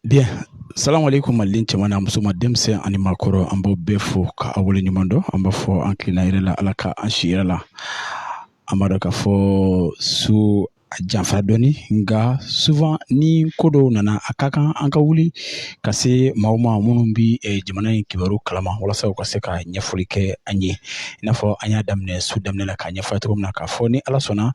Bien. Salam alaikum malien cɛman n'a musoman denmisɛn ani maakɔrɔ an b'aw bɛɛ fo ka aw wale ɲuman dɔn an b'a fɔ an tilenna hɛrɛ la ala ka an si hɛrɛ la an b'a dɔn k'a fɔ su a janfa dɔɔni nka souvent ni ko dɔw nana a ka kan an ka wuli ka se maaw ma minnu bɛ eh, jamana in kibaru kalama walasa u ka se ka ɲɛfɔli kɛ an ye n'a fɔ an y'a daminɛ su daminɛ la k'a ɲɛfɔ cogo min na k'a fɔ ni ala sɔnna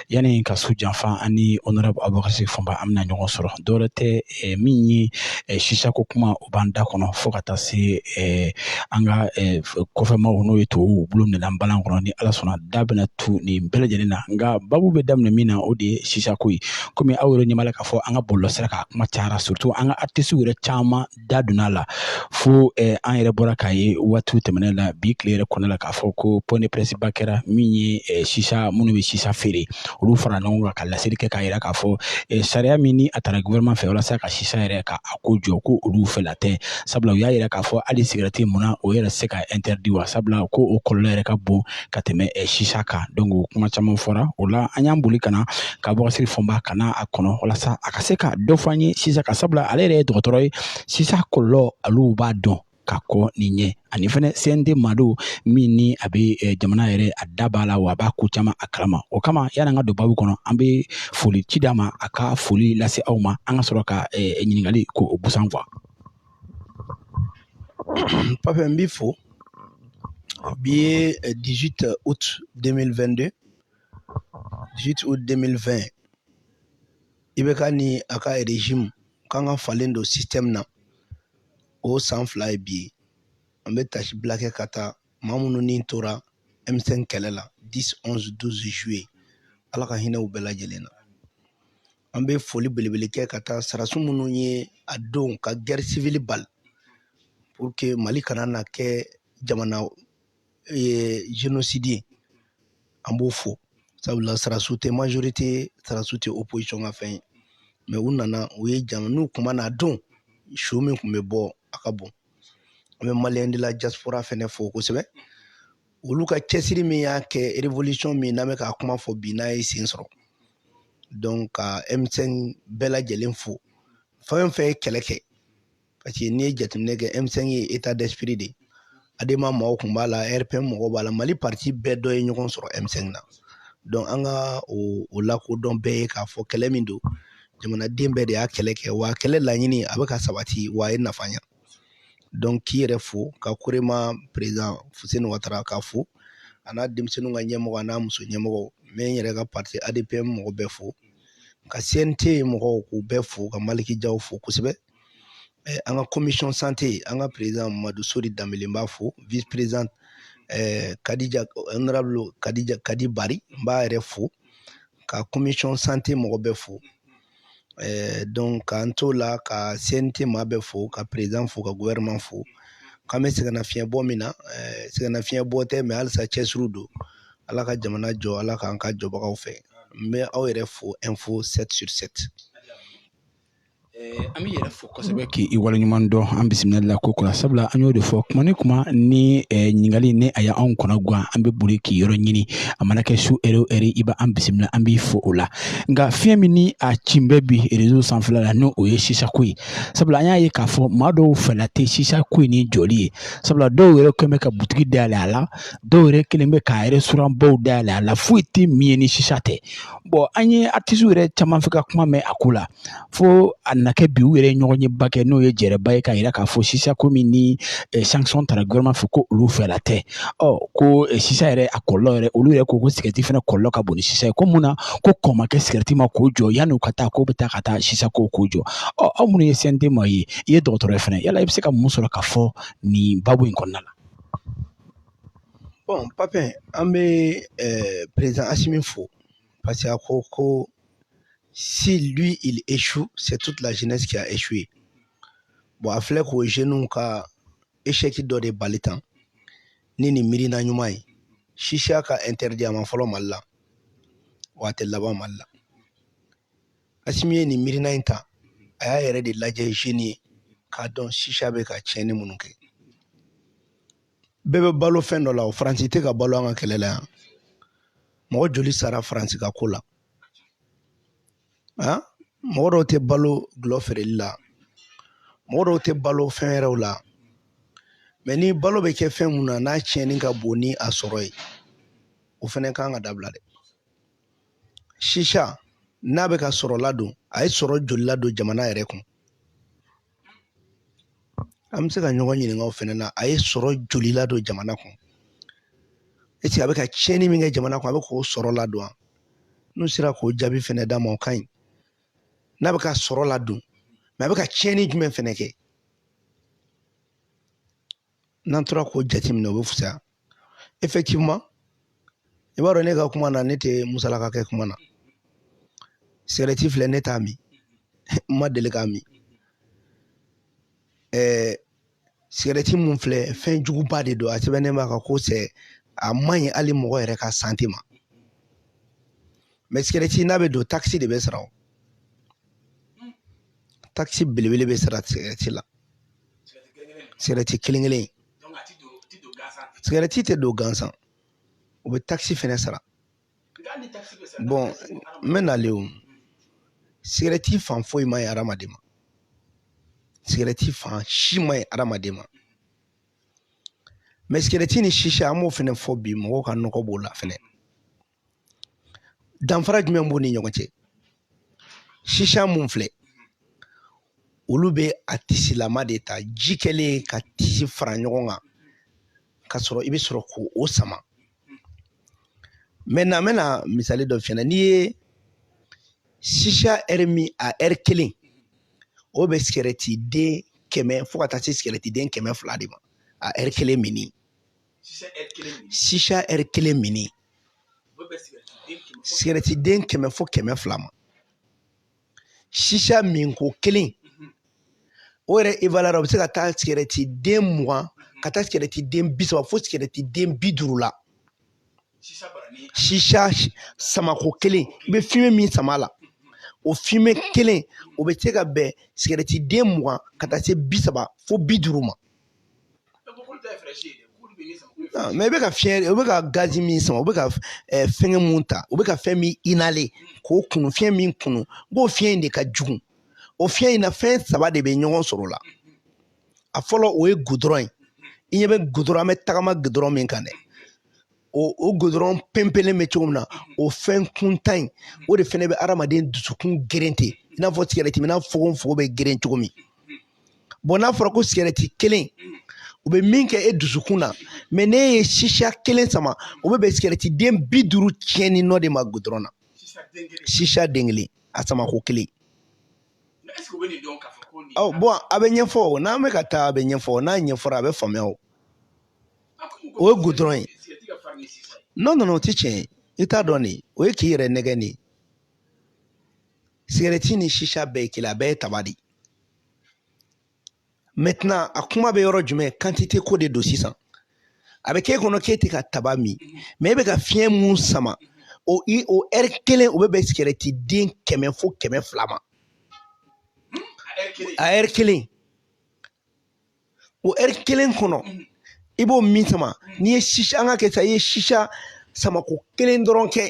yanni ka su janfa ani honorable Abubakar Sidiki Fɔnba an bɛna ɲɔgɔn sɔrɔ dɔwɛrɛ tɛ eh, min ye eh, sisako kuma o b'an da kɔnɔ fo ka taa se eh, an ka eh, kɔfɛmaw n'o ye tubabuw bolo minɛna balan kɔnɔ ni ala sɔnna da bɛna tu nin bɛɛ lajɛlen na nka babu bɛ daminɛ min na o de ye sisako ye komi aw yɛrɛ ɲɛ b'a la k'a fɔ an ka bɔlɔlɔsira kan a kuma cayara surtout an ka artisiw yɛrɛ caman da donna a la fo eh, an yɛrɛ bɔra k'a ye waatiw tɛmɛnen la bi tile yɛrɛ kɔnɔna la k'a fɔ ko point de presse ba kɛra min ye eh, sisa minnu bɛ sisa feere olu fara ɲɔgɔn kan ka laseli kɛ k'a yira k'a fɔ eh, sariya min ni a tara gouvernement fɛ walasa ka sisa yɛrɛ ka a ko jɔ ko olu fɛla tɛ sabula u y'a yira k'a fɔ hali sigɛrɛti mun na o yɛrɛ se ka interdit wa sabula ko o kɔlɔlɔ yɛrɛ ka bon ka tɛmɛ sisa kan donc kuma caman fɔra o la an y'an boli ka na ka Abubakar Sidiki Fɔnba ka na a kɔnɔ walasa a ka se ka dɔ fɔ an ye sisa kan sabula ale yɛrɛ ye dɔgɔtɔrɔ ye sisa kɔlɔlɔ olu b'a dɔn ka kɔn ne ɲɛ ani fɛnɛ CNT maa don min ni a bɛ eh, jamana yɛrɛ a da b'a la wa a b'a ko caman a kalama o kama yani an ka don babu kɔnɔ an bɛ foli ci d'a ma a ka foli lase aw ma an ka sɔrɔ ka eh, ɲininkali ko o busan quoi Pape n b'i fo bi ye 18 eh, août 2022 18 août 2020 IBK ni a ka régime k'an ka falen don système na o san fila ye bi ye an bɛ taasibila kɛ ka taa maa minnu ni tora M5 kɛlɛ la 10 11 12 juillet ala ka hinɛ u bɛɛ lajɛlen na an bɛ foli belebele kɛ ka taa sarasu minnu ye a don ka guerre civile bali pour que Mali kana na kɛ jamana génocide ye an b'o fo sabula sarasu tɛ majorité sarasu tɛ opposition ka fɛn ye mais u nana u ye jama n'u kun ma na a don su min tun bɛ bɔ a ka bon an bɛ maliens de la diaspora fɛnɛ fo kosɛbɛ olu ka cɛsiri min y'a kɛ révolution min n'an bɛ k'a kuma fɔ bi n'a ye sen sɔrɔ donc ka M5 bɛɛ lajɛlen fo fɛn o fɛn ye kɛlɛ kɛ parce que n'i ye jateminɛ kɛ M5 ye état d'esprit de ye ADEMA mɔgɔw tun b'a la RPM mɔgɔw b'a la Mali parti bɛɛ dɔ ye ɲɔgɔn sɔrɔ M5 na donc an ka o lakodɔn bɛɛ ye k'a fɔ kɛlɛ min don jamanaden bɛɛ de y'a kɛlɛ kɛ wa kɛlɛ laɲini a bɛ ka sabati wa a ye nafa ɲɛ donc k'i yɛrɛ fo ka korema président fusen watara ka fo a n'a denmisɛnninw ka ɲɛmɔgɔ a n'a muso ɲɛmɔgɔ n bɛ n yɛrɛ ka parti adpm mɔgɔ bɛɛ fo ka cnt mɔgɔw k'u bɛɛ fo ka maliki jaw fo kosɛbɛ an ka commission santé an ka président madu sori danbele n b'a fo vice président eh, kadija honorable kadija kadi bari n b'a yɛrɛ fo ka commission santé mɔgɔ bɛɛ fo donc k'an t'o la ka cnt maa bɛɛ fo ka président fo ka gouvernement fo k'an bɛ sɛgɛnnafiɲɛbɔ min na sɛgɛnnafiɲɛbɔ tɛ mais halisa cɛsiri don ala ka jamana jɔ ala k'an k'a jɔbagaw fɛ n bɛ aw yɛrɛ fo info sept sur sept an b'i yɛrɛ fo kosɛbɛ k' i waleɲuman dɔn an bisimila la ko kura sabula an y'o de fɔ kuma ni kuma ni ɲininkali ni a y' anw kɔnɔ gan an bɛ boli k'i yɔrɔ ɲini a mana kɛ su ɛri o ɛri i b' an bisimila an b'i fo o la nka fiɲɛ min ni a ci bɛ bi réseau sanfɛla la n' o ye sisako ye sabula an y'a ye k'a fɔ maa dɔw fɛla tɛ sisako in ni jɔli ye sabula dɔw yɛrɛ kɛlen bɛ ka butigi dayɛlɛ a la dɔw yɛrɛ kɛlen bɛ ka restaurant baw dayɛlɛ a la foyi tɛ min ye ni sisa tɛ bon an ye artistes yɛrɛ caman fɛ ka kuma mɛn a ko la fo a na kɛ bi u yɛrɛ ye ɲɔgɔnyeba kɛ n'o ye jɛrɛba ye k'a yira k'a fɔ sisa ko min ni sanction tara gouvernement fɛ ko olu fɛla tɛ ɔ ko sisa yɛrɛ a kɔlɔlɔ yɛrɛ olu yɛrɛ ko ko cigarette fɛnɛ kɔlɔlɔ ka bon ni sisa ye ko mun na ko kɔn ma kɛ cigarette ma k'o jɔ yanni u ka taa k'o bɛ taa ka taa sisa ko k'o jɔ ɔ aw minnu ye cnt maa ye i ye dɔgɔtɔrɔ ye fɛnɛ yala i bɛ se ka mun sɔrɔ ka fɔ nin baabu in kɔnɔna la bon papi an bɛ président asimi fo parce que a ko ko si lui il échoue c'est toute la jeunesse qui a échoué bon a filɛ k'o jeunes ka échec dɔ de bali tan ni nin miirina ɲuman ye sisa ka interdit a ma fɔlɔ mali la wa a tɛ laban mali la asimi ye nin miirina in ta a y'a yɛrɛ de lajɛ jeune ye k'a dɔn sisa bɛ ka tiɲɛni minnu kɛ bɛɛ bɛ balo fɛn dɔ la o faransi tɛ ka balo an ka kɛlɛ la yan mɔgɔ joli sara faransi ka ko la han mɔgɔ dɔw tɛ balo gulɔ feereli la mɔgɔ dɔw tɛ balo fɛn wɛrɛw la mais ni balo bɛ kɛ fɛn mun na n'a tiɲɛni ka bon ni a sɔrɔ ye o fɛnɛ ka kan ka dabila dɛ sisa n'a bɛ ka sɔrɔ ladon a ye sɔrɔ joli ladon jamana yɛrɛ kun an bɛ se ka ɲɔgɔn ɲininka o fɛnɛ na a ye sɔrɔ joli ladon jamana kun est-ce que a bɛ ka tiɲɛni min kɛ jamana kun a bɛ k'o sɔrɔ ladon wa n'u sera k'o jaabi fɛnɛ d'a ma o ka ɲi n'a bɛ ka sɔrɔ ladon mais a bɛ ka tiɲɛni jumɛn fɛnɛ kɛ n'an tora k'o jateminɛ o bɛ fisaya effectivement i b'a dɔn ne ka kuma na ne tɛ musalaka kɛ kuma na sigɛrɛti filɛ ne t'a min n ma deli k'a min ɛɛ sigɛrɛti mun filɛ fɛn juguba de don a sɛbɛnnen b'a kan ko sɛ a man ɲi hali mɔgɔ yɛrɛ ka sante ma mɛ sigɛrɛti n'a bɛ don takisi de bɛ sara o takisi belebele bɛ sara sigɛrɛti la sigɛrɛti kelen kelen sigɛrɛti tɛ don gansan u bɛ takisi fɛnɛ sara bɔn n bɛ nalen o sigɛrɛti fan foyi ma ɲi adamaden ma sigɛrɛti fan si ma ɲi adamaden ma mɛ sigɛrɛti ni sisa an b'o fɛnɛ fɔ bi mɔgɔw ka nɔgɔ b'o la fɛnɛ danfara jumɛn b'u ni ɲɔgɔn cɛ sisa mun filɛ olu bɛ a tisilama de ta ji kɛlen ka tisi fara ɲɔgɔn kan ka sɔrɔ i bɛ sɔrɔ k'o sama mɛtɛnan n bɛna misali dɔ f'i ɲɛna n'i ye sisa ɛri min a ɛri kelen o bɛ sigɛrɛti den kɛmɛ fo ka taa se sigɛrɛti den kɛmɛ fila de ma a ɛri kelen minni sisa ɛri kelen minni sigɛrɛti den kɛmɛ fo kɛmɛ fila ma sisa minko kelen o yɛrɛ evaluera o bɛ se ka taa sigɛrɛti den mugan ka taa sigɛrɛti den bi saba fo sigɛrɛti den bi duuru la sisa samako kelen i bɛ fumée min sama la o fumée kelen o bɛ se ka bɛn sigɛrɛti den mugan ka taa se bi saba fo bi duuru ma mɛ i bɛ ka fiɲɛ i bɛ ka gazi min sama u bɛ ka fɛngɛ mun ta u bɛ ka fɛn min inhaler k'o kunu fiɲɛ min kunu o fiɲɛ in de ka jugu o fiɲɛ in na fɛn saba de bɛ ɲɔgɔn sɔrɔ o la a fɔlɔ o ye gudɔrɔn ye i ɲɛ bɛ gudɔrɔn an bɛ tagama gudɔrɔn min kan dɛ o o gudɔrɔn pɛnpɛnlen bɛ cogo min na o fɛn kuntan in o de fɛnɛ bɛ adamaden dusukun geren ten i n'a fɔ sigɛrɛti minna fogonfogo bɛ geren cogo min bɔn n'a fɔra ko sigɛrɛti kelen o bɛ min kɛ e dusukun na mɛ n'e ye sisa kelen sama o bɛ bɛn sigɛrɛti den bi duuru tiɲɛni nɔ de ma gudɔrɔn na sisa den kelen a samako kelen bɔn a bɛ ɲɛfɔ n'an bɛ ka taa a bɛ ɲɛfɔ n'a ɲɛfɔra a bɛ faamuya o o ye gudɔrɔn ye non non o tɛ tiɲɛ ye i t'a dɔn de o ye k'i yɛrɛ nɛgɛn de ye sigɛrɛti ni sisa bɛɛ ye kelen a bɛɛ ye taba de ye mɛtɛnan a kuma bɛ yɔrɔ jumɛn kantite ko de don sisan a bɛ k'e kɔnɔ k'e tɛ ka taba min mɛ e bɛ ka fiɲɛ min sama o i o ɛri kelen o bɛ bɛn sigɛrɛti den kɛmɛ fo kɛmɛ fila ma a ɛri kelen o ɛri kelen kɔnɔ i b'o min sama n'i ye sisa an ka kɛ sa i ye sisa samako kelen dɔrɔn kɛ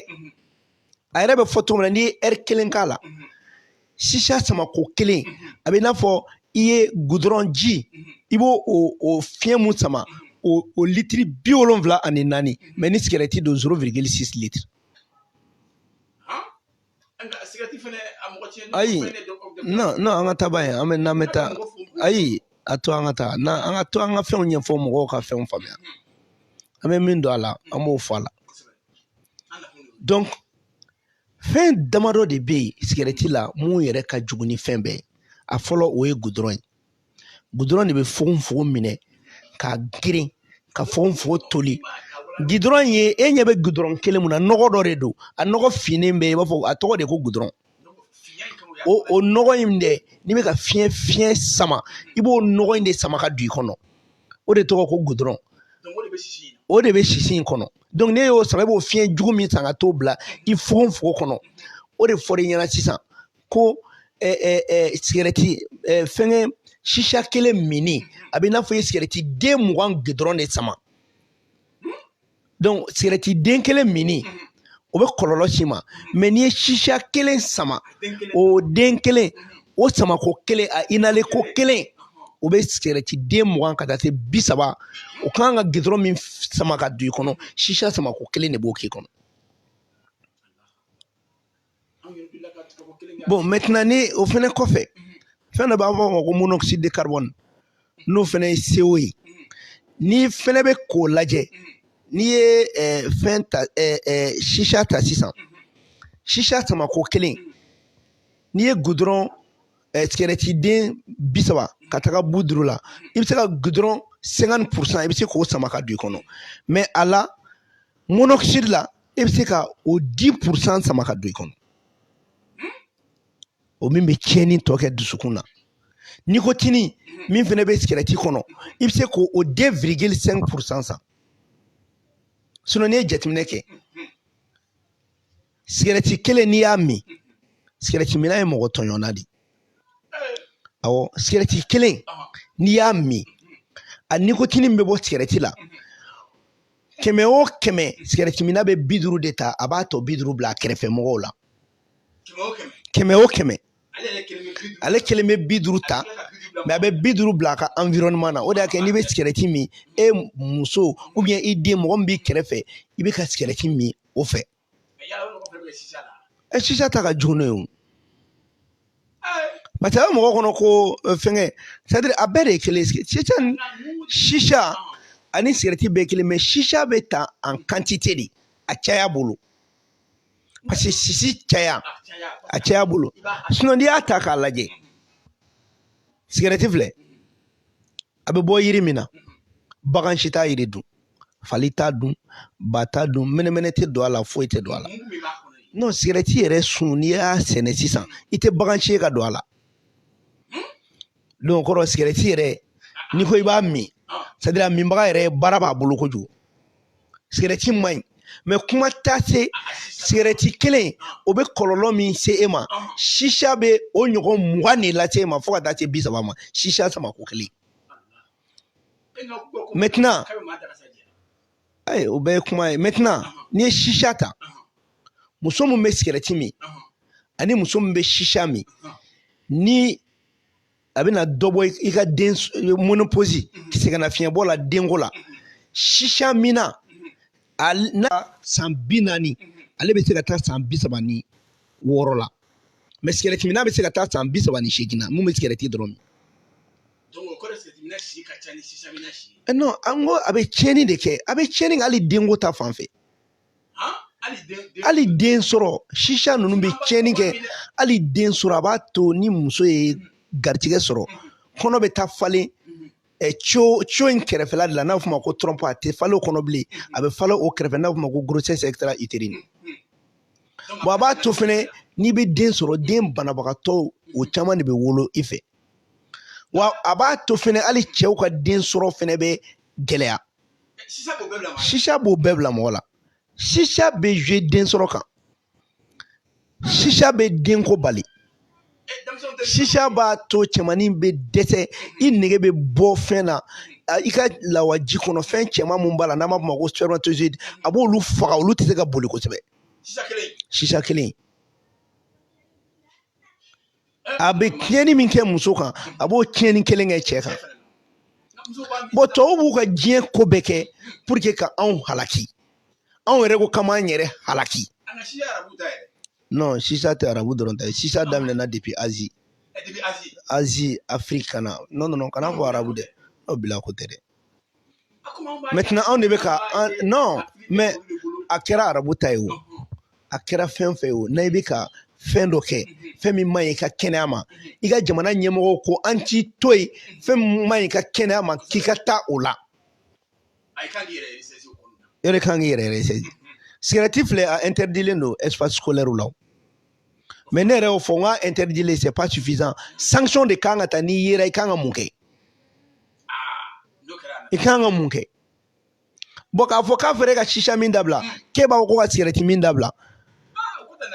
a yɛrɛ bɛ fɔ cogo min na n'i ye ɛri kelen k'a la sisa samako kelen a bɛ i n'a fɔ i ye gudɔrɔn ji i b'o o fiɲɛ mun sama o o litiri bi wolonwula ani naani mɛ ni sigɛrɛti don zero wirigili sisi litiri ayi non an ka taaba ye an bɛ n'an bɛ taa ayi a to an ka taa na an ka to an ka fɛnw ɲɛfɔ mɔgɔw ka fɛnw faamuya an bɛ min dɔn a la an b'o fɔ a la donc fɛn damadɔ de bɛ yen sigɛrɛti la mun yɛrɛ ka jugu ni fɛn bɛɛ ye a fɔlɔ o ye gudɔrɔn ye gudɔrɔn de bɛ fogofogo minɛ k'a geren ka fogofogo toli gudɔrɔn ye e ɲɛ bɛ gudɔrɔn kelen mun na nɔgɔ dɔ de don a nɔgɔ finnen bɛ i b'a fɔ a tɔgɔ de ko gudɔrɔn o o nɔgɔ in dɛ n'i bɛ ka fiɲɛ fiɲɛ sama i b'o nɔgɔ in de sama ka don i kɔnɔ o de tɔgɔ ko gudɔrɔn o de bɛ sisi in kɔnɔ donc n'i y'o sama i b'o fiɲɛ jugu min sama ka t'o bila i fogofogo kɔnɔ o de fɔra i ɲɛ na sisan ko sigɛrɛti fɛngɛ sisa kelen minni a bɛ i n'a fɔ i ye sigɛrɛti den mugan gudɔrɔn de sama donc sigɛrɛti den kelen minni o bɛ kɔlɔlɔ s'i ma mɛ n'i ye sisa kelen sama o den kelen o samako kelen a inhaler ko kelen o bɛ sigɛrɛti den mugan ka taa se bi saba o kan ka gudɔrɔn min sama ka don i kɔnɔ sisa samako kelen de b'o k'i kɔnɔ bɔn mɛtɛnɛn ni o fana kɔfɛ fɛn dɔ b'a fɔ o ma ko monoxyde de carbone n'o fana ye CO ye n'i fana bɛ k'o lajɛ n'i ye ɛɛ fɛn ta ɛɛ ɛɛ sisa ta sisan sisa samako kelen n'i ye gudɔrɔn ɛɛ sigɛrɛtiden bi saba ka taga bi duuru la i bɛ se ka gudɔrɔn sɛnkanti purusan i bɛ se k'o sama ka don i kɔnɔ mɛ a la monoxyde la i bɛ se ka o di purusan sama ka don i kɔnɔ o min bɛ tiɲɛni tɔ kɛ dusukun na nikotini min fana bɛ sigɛrɛti kɔnɔ i bɛ se k'o o de wirigili sɛnki purusan sama sinɔn n'i ye jateminɛ kɛ sigɛrɛti kelen n'i y'a min sigɛrɛti minna ye mɔgɔ tɔɲɔnna de awɔ sigɛrɛti kelen n'i y'a min a nikotini min bɛ bɔ sigɛrɛti la kɛmɛ o kɛmɛ sigɛrɛti minna bɛ bi duuru de ta a b'a tɔ bi duuru bila a kɛrɛfɛ mɔgɔw la kɛmɛ o kɛmɛ ale kelen bɛ bi duuru ta mɛ a bɛ bi duuru bila a ka environnement na o de y'a kɛ n'i bɛ sigɛrɛti min e muso ubiyɛn i den mɔgɔ min b'i kɛrɛfɛ i bɛ ka sigɛrɛti min o fɛ ɛ sisa ta ka jugu n'o ye o parce que a bɛ mɔgɔ kɔnɔ ko fɛngɛ c'est à dire a bɛɛ de ye kelen sisa ani sigɛrɛti bɛɛ kelen mais sisa bɛ ta en quantité de a caya bolo parce que sisi caya a caya bolo sinon n'i y'a ta k'a lajɛ sigɛrɛti filɛ a bɛ bɔ yiri min na bagan si t'a yiri dun fali t'a dun ba t'a dun mɛnɛmɛnɛ tɛ don a la foyi tɛ don a la non sigɛrɛti yɛrɛ sun n'i y'a sɛnɛ sisan i tɛ bagan si ye ka don a la donc kɔrɔ sigɛrɛti yɛrɛ n'i ko i b'a min c'est à dire a minbaga yɛrɛ baara b'a bolo kojugu sigɛrɛti man ɲi mais kuma t'a se sigɛrɛti kelen o bɛ kɔlɔlɔ min se e ma sisa bɛ o ɲɔgɔn mugan de lase e ma fo ka taa se bi saba ma sisa samako kelen maintenant ayi o bɛɛ ye kuma ye maintenant n'i ye sisa ta muso min bɛ sigɛrɛti min ani muso min bɛ sisa min ni a bɛna dɔ bɔ i ka den ménopause sɛgɛnnafiɲɛbɔ la denko la sisa minna n'a san bi naani ale bɛ se ka taa san bi saba ni wɔɔrɔ la mais sigɛrɛti minna bɛ se ka taa san bi saba ni seegin na mun bɛ sigɛrɛti dɔrɔn min. non an ko a bɛ tiɲɛni de kɛ a bɛ tiɲɛni kɛ hali denko ta fan fɛ. hali den sɔrɔ sisa ninnu bɛ tiɲɛni kɛ hali den sɔrɔ a b'a to ni muso ye garijɛgɛ sɔrɔ kɔnɔ bɛ taa falen co co in kɛrɛfɛla de la n'a bɛ f'o ma ko trompe a tɛ falen o kɔnɔ bilen a bɛ falen o kɛrɛfɛ n'a bɛ f'o ma ko grossesse extra utérine bon a b'a to fɛnɛ n'i bɛ den sɔrɔ den banabagatɔw o caman de bɛ wolo i fɛ wa a b'a to fɛnɛ hali cɛw ka den sɔrɔ fɛnɛ bɛ gɛlɛya sisa b'o bɛɛ bila mɔgɔ la sisa bɛ jouer den sɔrɔ kan sisa bɛ denko bali sisa b'a to cɛmannin bɛ dɛsɛ i nege bɛ bɔ fɛn na i ka lawaji kɔnɔ fɛn cɛman mun b'a la n'an b'a fɔ o ma ko spermatozoïde a b'olu faga olu tɛ se ka boli kosɛbɛ sisa kelen a bɛ tiɲɛni min kɛ muso kan a b'o tiɲɛni kelen kɛ cɛ kan bon tɔw b'u ka diɲɛ ko bɛɛ kɛ pour que ka anw halaki anw yɛrɛ ko k'an b'an yɛrɛ halaki non sisa tɛ arabu dɔrɔn ta ye sisa daminɛna depuis azi azi afiriki kana non non kan'a fɔ arabu dɛ o bila ko tɛ dɛ maintenant anw de bɛ ka non mais a kɛra arabu ta ye o a kɛra fɛn fɛn ye o n'a i bɛ ka fɛn dɔ kɛ fɛn min man ɲi i ka kɛnɛya ma i ka jamana ɲɛmɔgɔw ko an t'i to yen fɛn min man ɲi i ka kɛnɛya ma k'i ka taa o la e de kan k'i yɛrɛ ressaisir sigɛrɛti filɛ a interdilen don espace scolaire la mais ne yɛrɛ y'o fɔ n ka interdire c'est pas suffisant sanction de kan ka ta n'i yera i kan ka mun kɛ i kan ka mun kɛ bon k'a fɔ k'a fɔra e ka shisha min dabila k'e b'a fɔ ko ka sigɛrɛti min dabila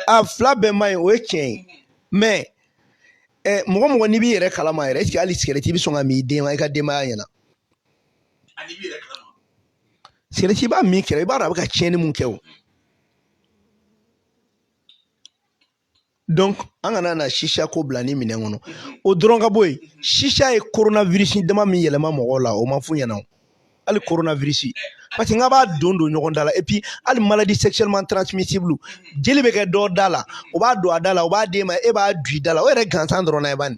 a fila bɛɛ man ɲi o ye tiɲɛ ye mais ɛ mɔgɔ mɔgɔ n'i b'i yɛrɛ kalama yɛrɛ est-ce que hali sigɛrɛti i bɛ sɔn k'a min i den i ka denbaya ɲɛna sigɛrɛti i b'a min kɛrɛ i b'a dɔn a bɛ ka tiɲɛni mun kɛ o donc an kana na shisha ko bila ni minɛn kɔnɔ o dɔrɔn ka bɔ yen shisha ye coronavirus dama min yɛlɛma mɔgɔw la o ma f'u ɲɛna o hali coronavirus parce que n ka b'a don don ɲɔgɔn da la et puis hali maladie sexuellement transmissible jeli bɛ kɛ dɔ da la o b'a don a da la o b'a d'e ma e b'a du i da la o yɛrɛ gansan dɔrɔn na ye bani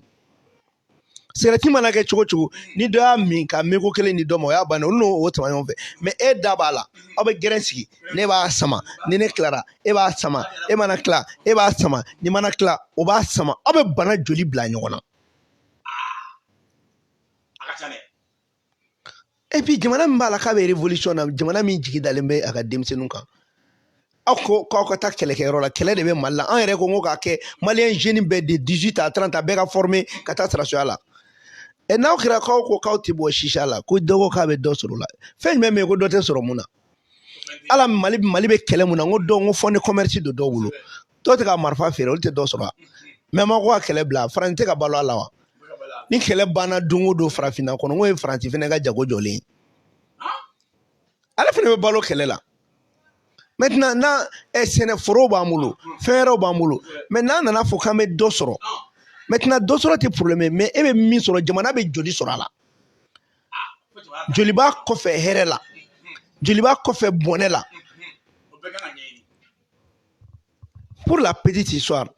sigɛrɛti mana kɛ cogo cogo ni dɔ y'a min ka meko kelen di dɔ ma o y'a bannen olu n'o sama ɲɔgɔn fɛ mais e da b'a la aw bɛ gɛrɛn sigi ne b'a sama ni ne tilara e b'a sama e mana tila e b'a sama nin mana tila o b'a sama aw bɛ bana joli bila ɲɔgɔn na et puis jamana min b'a la k'a bɛ révolution na jamana min jigi dalen bɛ a ka denmisɛnninw kan aw ko k'aw ka taa kɛlɛkɛyɔrɔ la kɛlɛ de bɛ mali la an yɛrɛ ko ko k'a kɛ malien jeune bɛɛ de 18 à 30 a bɛɛ ka former ka taa sɔrɔdasiya la et n'aw kɛra k'aw ko k'aw tɛ bɔ shisha la ko dɔ ko k'a bɛ dɔ sɔrɔ o la fɛn jumɛn bɛ yen ko dɔ tɛ sɔrɔ mun na ala mali bɛ kɛlɛ mun na n ko dɔn ko fɔ ni commerce don dɔw bolo dɔw tɛ ka marifa feere olu tɛ dɔ sɔrɔ mais ma ko ka kɛlɛ bila faransi tɛ ka balo a la wa ni kɛlɛ banna don o don farafinna kɔnɔ n'o ye faransi fana ka jago jɔlen ye ale fana bɛ balo kɛlɛ la maintenant na eh, sɛnɛforow b'an bolo fɛn wɛrɛw b'an bolo mais n'an nana fɔ k'an bɛ dɔ sɔrɔ maintenant dɔ sɔrɔ tɛ problème mais e bɛ min sɔrɔ jamana bɛ joli sɔrɔ a la joli b'a kɔfɛ hɛrɛ la joli b'a kɔfɛ bɔnɛ la pour la petite histoire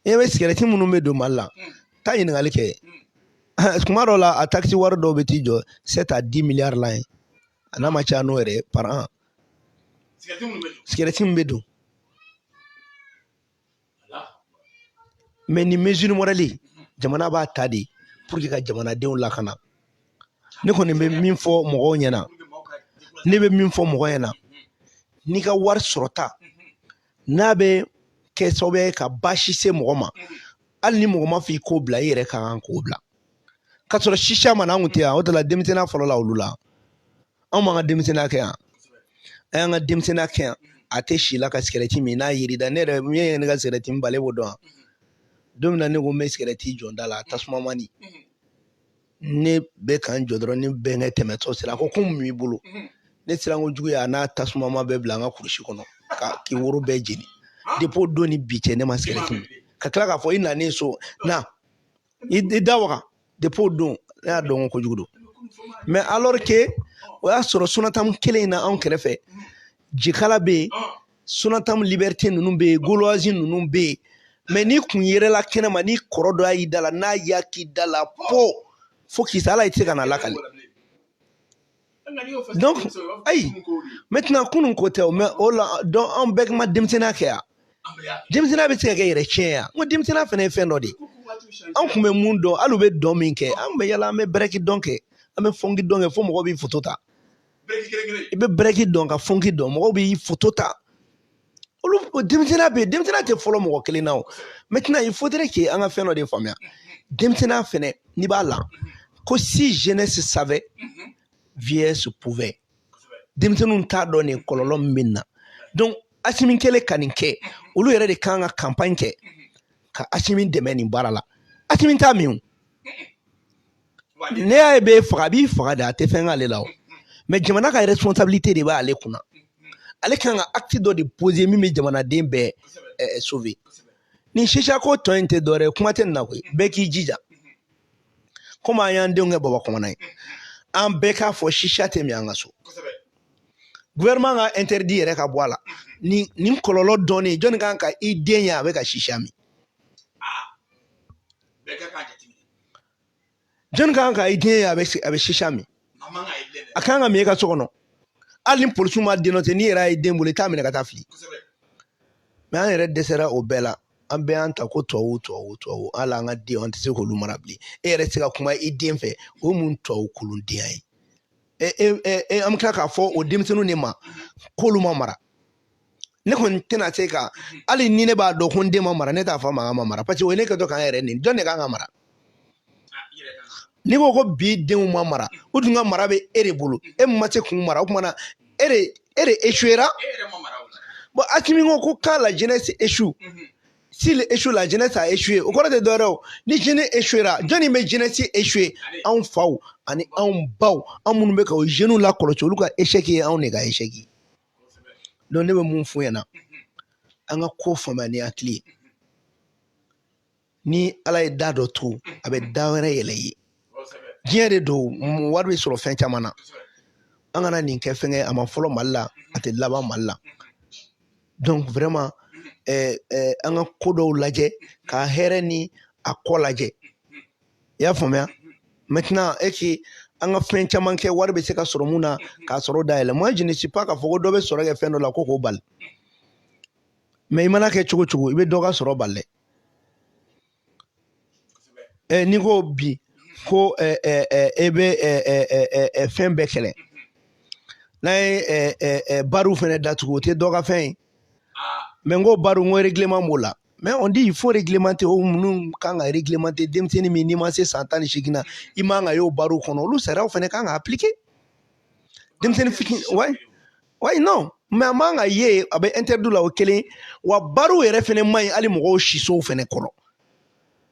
e bɛ sigɛrɛti minnu bɛ don mali la taa ɲininkali kɛ tuma dɔw la a taxe wari dɔw bɛ t'i jɔ sept à dix milliards la ye a n'a ma caya n'o yɛrɛ ye par an sigɛrɛti min bɛ don mais ni mesure morale jamana b'a ta de pour que ka jamanadenw lakana ne kɔni bɛ min fɔ mɔgɔw ɲɛna ne bɛ min fɔ mɔgɔ ɲɛna n'i ka wari sɔrɔta n'a bɛ kɛ sababu ye ka baasi se mɔgɔ ma hali ni mɔgɔ m'a f'i k'o bila i yɛrɛ ka kan k'o bila k'a sɔrɔ shisha ma na an kun tɛ yan o de la denmisɛnninya fɔlɔ la olu la anw m'an ka denmisɛnninya kɛ yan an y'an ka denmisɛnninya kɛ yan a tɛ si la ka sigɛrɛti min n'a yiri da ne yɛrɛ min ye ne ka sigɛrɛti min bale b'o dɔn wa don min na ne ko n bɛ sigɛrɛti jɔ n da la tasuma mana ne bɛ ka n jɔ dɔrɔn ne bɛnkɛ tɛmɛtɔ sera a ko ko mun b'i bolo ne siran kojugu y'a n'a tasuma ma bɛɛ bila n ka kurusi kɔnɔ ka k'i woro bɛɛ jeni depuis o don ni bi cɛ ne ma sigɛrɛti min ka tila k'a fɔ i nanen so na i i da waga depuis o don ne y'a dɔn ko kojugu don mais alors que o y'a sɔrɔ sonatam kelen in na anw kɛrɛfɛ jikala bɛ yen sonatam liberté ninnu bɛ yen gauloise ninnu bɛ yen mais n'i kun yerela kɛnɛma n'i kɔrɔ dɔ y'a y'i da la n'a y'a k'i da la po fo k'i sa ala i tɛ se ka n'a lakali ayi maintenant kunun ko tɛ mais o la donc an bɛɛ kun ma denmisɛnninya kɛ yan denmisɛnninya bɛ se ka kɛ yɛrɛ tiɲɛ yan n ko denmisɛnninya fana ye fɛn dɔ de ye an kun bɛ mun dɔn hali u bɛ dɔn min kɛ an bɛ yala an bɛ bɛrɛki dɔn kɛ an bɛ fɔnki dɔn kɛ fo mɔgɔw b'i foto ta i bɛ bɛrɛki dɔn ka fɔnki dɔn mɔgɔw b'i foto ta olu denmisɛnninya bɛ yen denmisɛnninya tɛ fɔlɔ mɔgɔ kelen na o maintenant il faudrait que an ka fɛn dɔ de faamuya denmisɛnninya fɛnɛ n'i b'a la ko si jeunesse savait vieillesse pouvait denmisɛnninw t'a dɔn nin kɔlɔlɔ min bɛ na donc asimi kɛlen ka nin kɛ olu yɛrɛ de kan ka campagne kɛ ka asimi dɛmɛ nin baara la asimi t'a min o ne y'a ye b'i faga a b'i faga de a tɛ fɛn k'ale la o mais jamana ka responsabilité de b'ale kunna ale kan ka acte dɔ de poser min bɛ jamanaden bɛɛ eh, sauver ni shisha ko tɔ in tɛ dɔwɛrɛ ye kuma tɛ nin na koyi bɛɛ k'i jija komi an y'an denw kɛ baba commandant ye an bɛɛ k'a fɔ shisha tɛ min an ka so gouvernement ka interdit yɛrɛ ka bɔ a la nin nin kɔlɔlɔ dɔɔni jɔnni kan ka i den ye a bɛ ka shisha min jɔnni ka kan ka i den ye a bɛ a bɛ shisha min a kan ka min i ka so kɔnɔ hali ni polisiw ma den dɔ ten n'i yɛrɛ y'a ye den bolo i t'a minɛ ka taa fili mais an yɛrɛ dɛsɛra o bɛɛ la an bɛɛ y'an ta ko tubabu tubabu tubabu hali an ka den an tɛ se k'olu mara bilen e yɛrɛ tɛ se ka kuma i den fɛ o ye mun tubabu kolondenya ye e e e an bɛ tila k'a fɔ o denmisɛnninw de ma k'olu ma mara ne kɔni tɛna se ka hali ni ne b'a dɔn ko n den ma mara ne t'a fɔ a ma k'a ma mara paseke o ye ne kɛtɔ ka n yɛrɛ nɛni jɔn de kan ka mara n'i ko ko bi denw ma mara u dun ka mara bɛ e de bolo e ma se k'u mara o tuma na e de e de échouera bon Asimi ko ko quand la jeunesse échoue s'il échoue la jeunesse a échoué o kɔrɔ tɛ dɔwɛrɛ o ni jeunesse échouera jɔnni bɛ jeunesse échoué anw faw ani anw baw anw minnu bɛ ka o jeunes lakɔlɔsi olu ka échec ye anw de ka échec ye. donc ne bɛ mun f'u ɲɛna an ka ko faamuya ni hakili ye ni ala ye da dɔ tugu a bɛ da wɛrɛ yɛlɛ i ye diɲɛ de don wari bɛ sɔrɔ fɛn caman na an kana nin kɛ fɛnkɛ a ma fɔlɔ mali la a tɛ laban mali la donc vraiment eh, eh, an ka ko dɔw lajɛ k'a hɛrɛ ni a kɔ lajɛ i y'a faamuya maintenant e k'i an ka fɛn caman kɛ wari bɛ se ka sɔrɔ mun na ka sɔrɔda yɛlɛ moi je ne suis pas k'a fɔ ko dɔ bɛ sɔrɔ kɛ fɛn dɔ la ko k'o bali mais i mana kɛ cogo o cogo i bɛ dɔ ka sɔrɔ bali dɛ ɛ n'i ko bi ko ɛ ɛ ɛ e bɛ ɛ ɛ ɛ ɛ fɛn bɛɛ kɛlɛ n'a ye ɛ ɛ ɛ bariw fɛnɛ datugu o tɛ dɔ ka fɛn ye mais n ko bariw n ko règlement b'o la mais on dit il faut réglementer o minnu kan ka réglementer denmisɛnnin min n'i ma se san tan ni seegin na i man ka y'o bariw kɔnɔ olu sariyaw fana kan ka appliquer denmisɛnnin fitini wayi wayi non mais a man ka ye a bɛ interdit la o kelen wa bariw yɛrɛ fana man ɲi hali mɔgɔw sisow fana kɔrɔ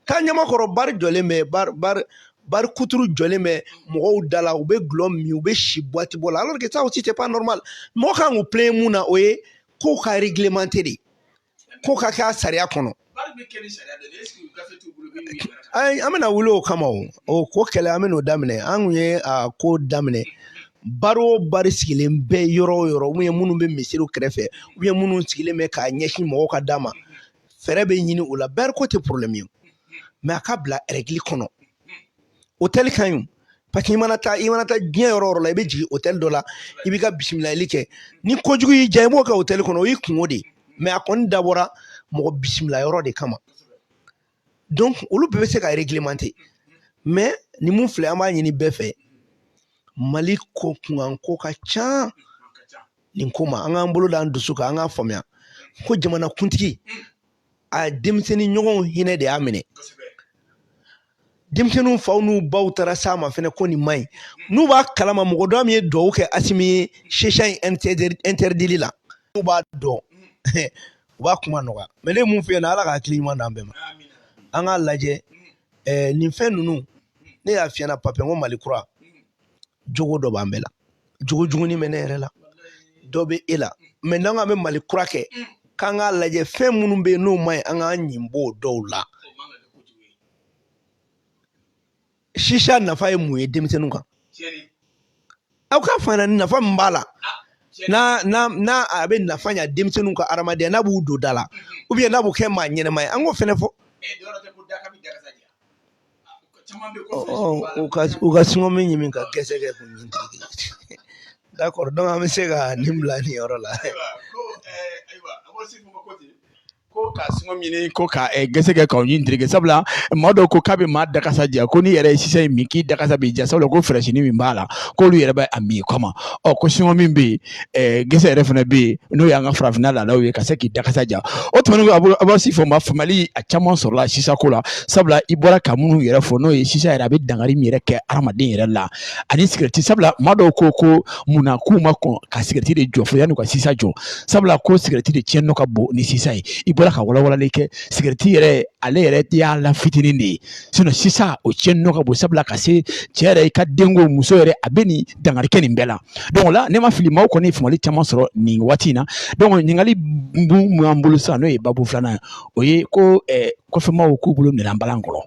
taa ɲamakɔrɔ bari jɔlen bɛ bari bari bari kuturu jɔlen bɛ mɔgɔw da la u bɛ gulɔ min u bɛ si buwati bɔ la alors que ça aussi c'est pas normal mɔgɔ kan k'u plaindre mun na o ye kow ka réglementer de ko ka kɛ a sariya kɔnɔ an bɛna wuli o kama o ko kɛlɛ an bɛn'o daminɛ an tun ye a ko daminɛ bari o bari sigilen bɛ yɔrɔ o yɔrɔ ou bien minnu bɛ misiriw kɛrɛfɛ ou bien minnu sigilen bɛ k'a ɲɛsin mɔgɔw ka da ma fɛɛrɛ bɛ ɲini o la bari ko tɛ porobilɛmu ye mais a ka bila ɛrɛgili kɔnɔ otɛli ka ɲi parce que i mana taa i mana taa diɲɛ yɔrɔ o yɔrɔ la i bɛ jigin otɛli dɔ la i b'i ka bisimilali kɛ ni kojugu y'i diya i b'o kɛ otɛli kɔnɔ o y'i kunko de ye mais a kɔni dabɔra mɔgɔ bisimila yɔrɔ de kama donc olu bɛɛ bɛ se ka réglementer mais ni mun filɛ an b'a ɲini bɛɛ fɛ mali ko kunkanko ka ca nin ko ma an k'an bolo da an dusu kan an k'a faamuya ko jamanakuntigi a denmisɛnnin ɲɔgɔnw hinɛ de y'a minɛ denmisɛnninw faw n'u baw taara s'a ma fɛnɛ ko nin man ɲi n'u b'a kalama mɔgɔ dɔ min ye duwawu kɛ asimi ye shisha in ɛntɛridili la n'u b'a dɔn u b'a kuma nɔgɔya mais ne mun f'i ɲɛna ala ka hakili ɲuman d'an bɛɛ ma an k'a lajɛ nin fɛn ninnu ne y'a f'i ɲɛna Pape n ko mali kura jogo dɔ b'an bɛɛ la jogo jugunin bɛ ne yɛrɛ la dɔ bɛ e la mais n'an k'an bɛ mali kura kɛ k'an k'a lajɛ fɛn minnu bɛ yen n'o man ɲi an k'an ɲin b'o dɔw la sisa nafa ye mun ye denmisɛnninw kan aw k'a fɔ an ɲɛna nafa min b'a la n'a n'a n'a a bɛ nafa ɲa denmisɛnninw ka adamadenya n'a b'u don da la ou bien n'a b'u kɛ maa ɲɛnama ye an k'o fɛnɛ fɔ u ka u ka singɔmu ɲimi ka gɛsɛ kɛ k'u ɲin d'accord donc an bɛ se ka nin bila nin yɔrɔ la ko ka singɔmu ɲimi ko ka gɛsɛ kɛ k'aw ɲin tereke sabula maa dɔw ko k'a bɛ maa dakasa diya ko n'i yɛrɛ ye sisa min k'i dakasa bɛ diya sabula ko fɛrɛsini min b'a la k'olu yɛrɛ bɛ a min kama ɔ ko singɔmu bɛ yen gɛsɛ yɛrɛ fana bɛ yen n'o y'an ka farafinna laadaw ye ka se k'i dakasa diya o tuma an bɛ se k'a fɔ maa faamali a caman sɔrɔla sisa ko la sabula i bɔra ka minnu yɛrɛ fɔ n'o ye sisa yɛrɛ a bɛ dankari min yɛrɛ kɛ adamaden yɛrɛ la ani sigɛriti sabula maa dɔw ko ko munna k'u ma kɔn ka sigɛriti de jɔ fo yann'u ka sisa jɔ sabula ko sigɛriti de tiɲɛni ka bon ni sisa ye i bɔra ka walawalali kɛ sigɛriti yɛrɛ ale yɛrɛ ta y'a la fitinin de ye sisa o cɛnni nɔ ka bon sabula ka se cɛ yɛrɛ i ka denko muso yɛrɛ a bɛ nin dankari kɛ nin bɛɛ la donc o la ne ma fili maaw kɔni ye faamuyali caman sɔrɔ nin waati in na donc ɲininkali min b'an bolo sisan n'o ye babu filanan ye o ye ko kɔfɛmaaw k'u bolo minɛna balan kɔnɔ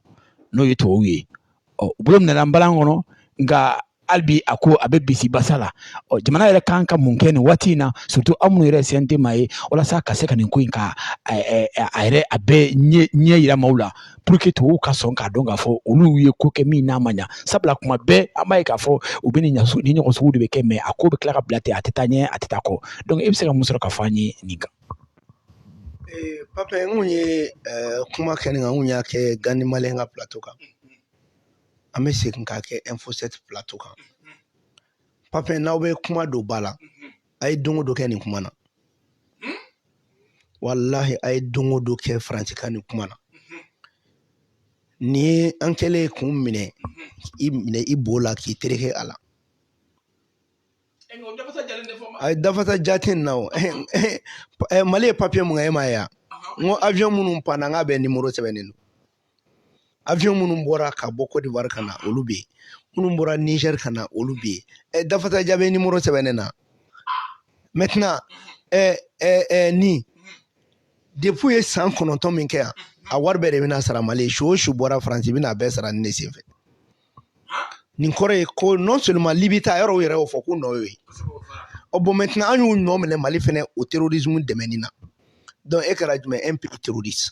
n'o ye tubabuw ye ɔ u bolo minɛna balan kɔnɔ nka hali bi a ko a bɛ bisi basa la ɔ jamana yɛrɛ kan ka mun kɛ nin waati in na surtout aw minnu yɛrɛ CNT ma ye walasa ka se ka nin ko in ka a yɛrɛ a bɛɛ ɲɛ ɲɛ yira maaw la pour que tubabuw ka sɔn k'a dɔn k'a fɔ olu ye ko kɛ min n'a ma ɲa sabula kuma bɛɛ an b'a ye k'a fɔ u bɛ nin ɲasu ni ɲɔgɔn sugu de bɛ kɛ mais a ko bɛ tila ka bila ten a tɛ taa ɲɛ a tɛ taa kɔ donc e bɛ se ka mun sɔrɔ ka fɔ an ye nin kan pape n kun ye kuma kɛ nin kan n kun y'a kɛ gandhi malien ka plateau kan an bɛ segin k'a kɛ info sept plateau kan pape n'aw bɛ kuma don ba la a ye don o don kɛ nin kuma na walahi a ye don o don kɛ faransikan nin kuma na nin ye an kɛlen k'u minɛ i minɛ i bo la k'i tereke a la a ye dafasa jate na o mali ye papiye mun kɛ e m'a ye n ko avion minnu panna n k'a bɛɛ nimoro sɛbɛnnen don avion minnu bɔra ka bɔ cote d'ivoire ka na olu bɛ yen minnu bɔra niger ka na olu bɛ yen ɛ dafasa ja bɛɛ nimoro sɛbɛnnen don maintenant ɛ ɛ ɛ nin depuis ye san kɔnɔntɔn min kɛ yan a wari bɛɛ de bɛna sara mali ye su o su bɔra faransi bɛna a bɛɛ sara ni ne sen fɛ nin kɔrɔ ye ko non seulement libi ta yɔrɔ u yɛrɛ y'o fɔ k'u nɔ y'o ye ɔ bon maintenant an y'u nɔ minɛ mali fɛnɛ o terrorisme dɛmɛni na donc e kɛra jumɛn un pays terroriste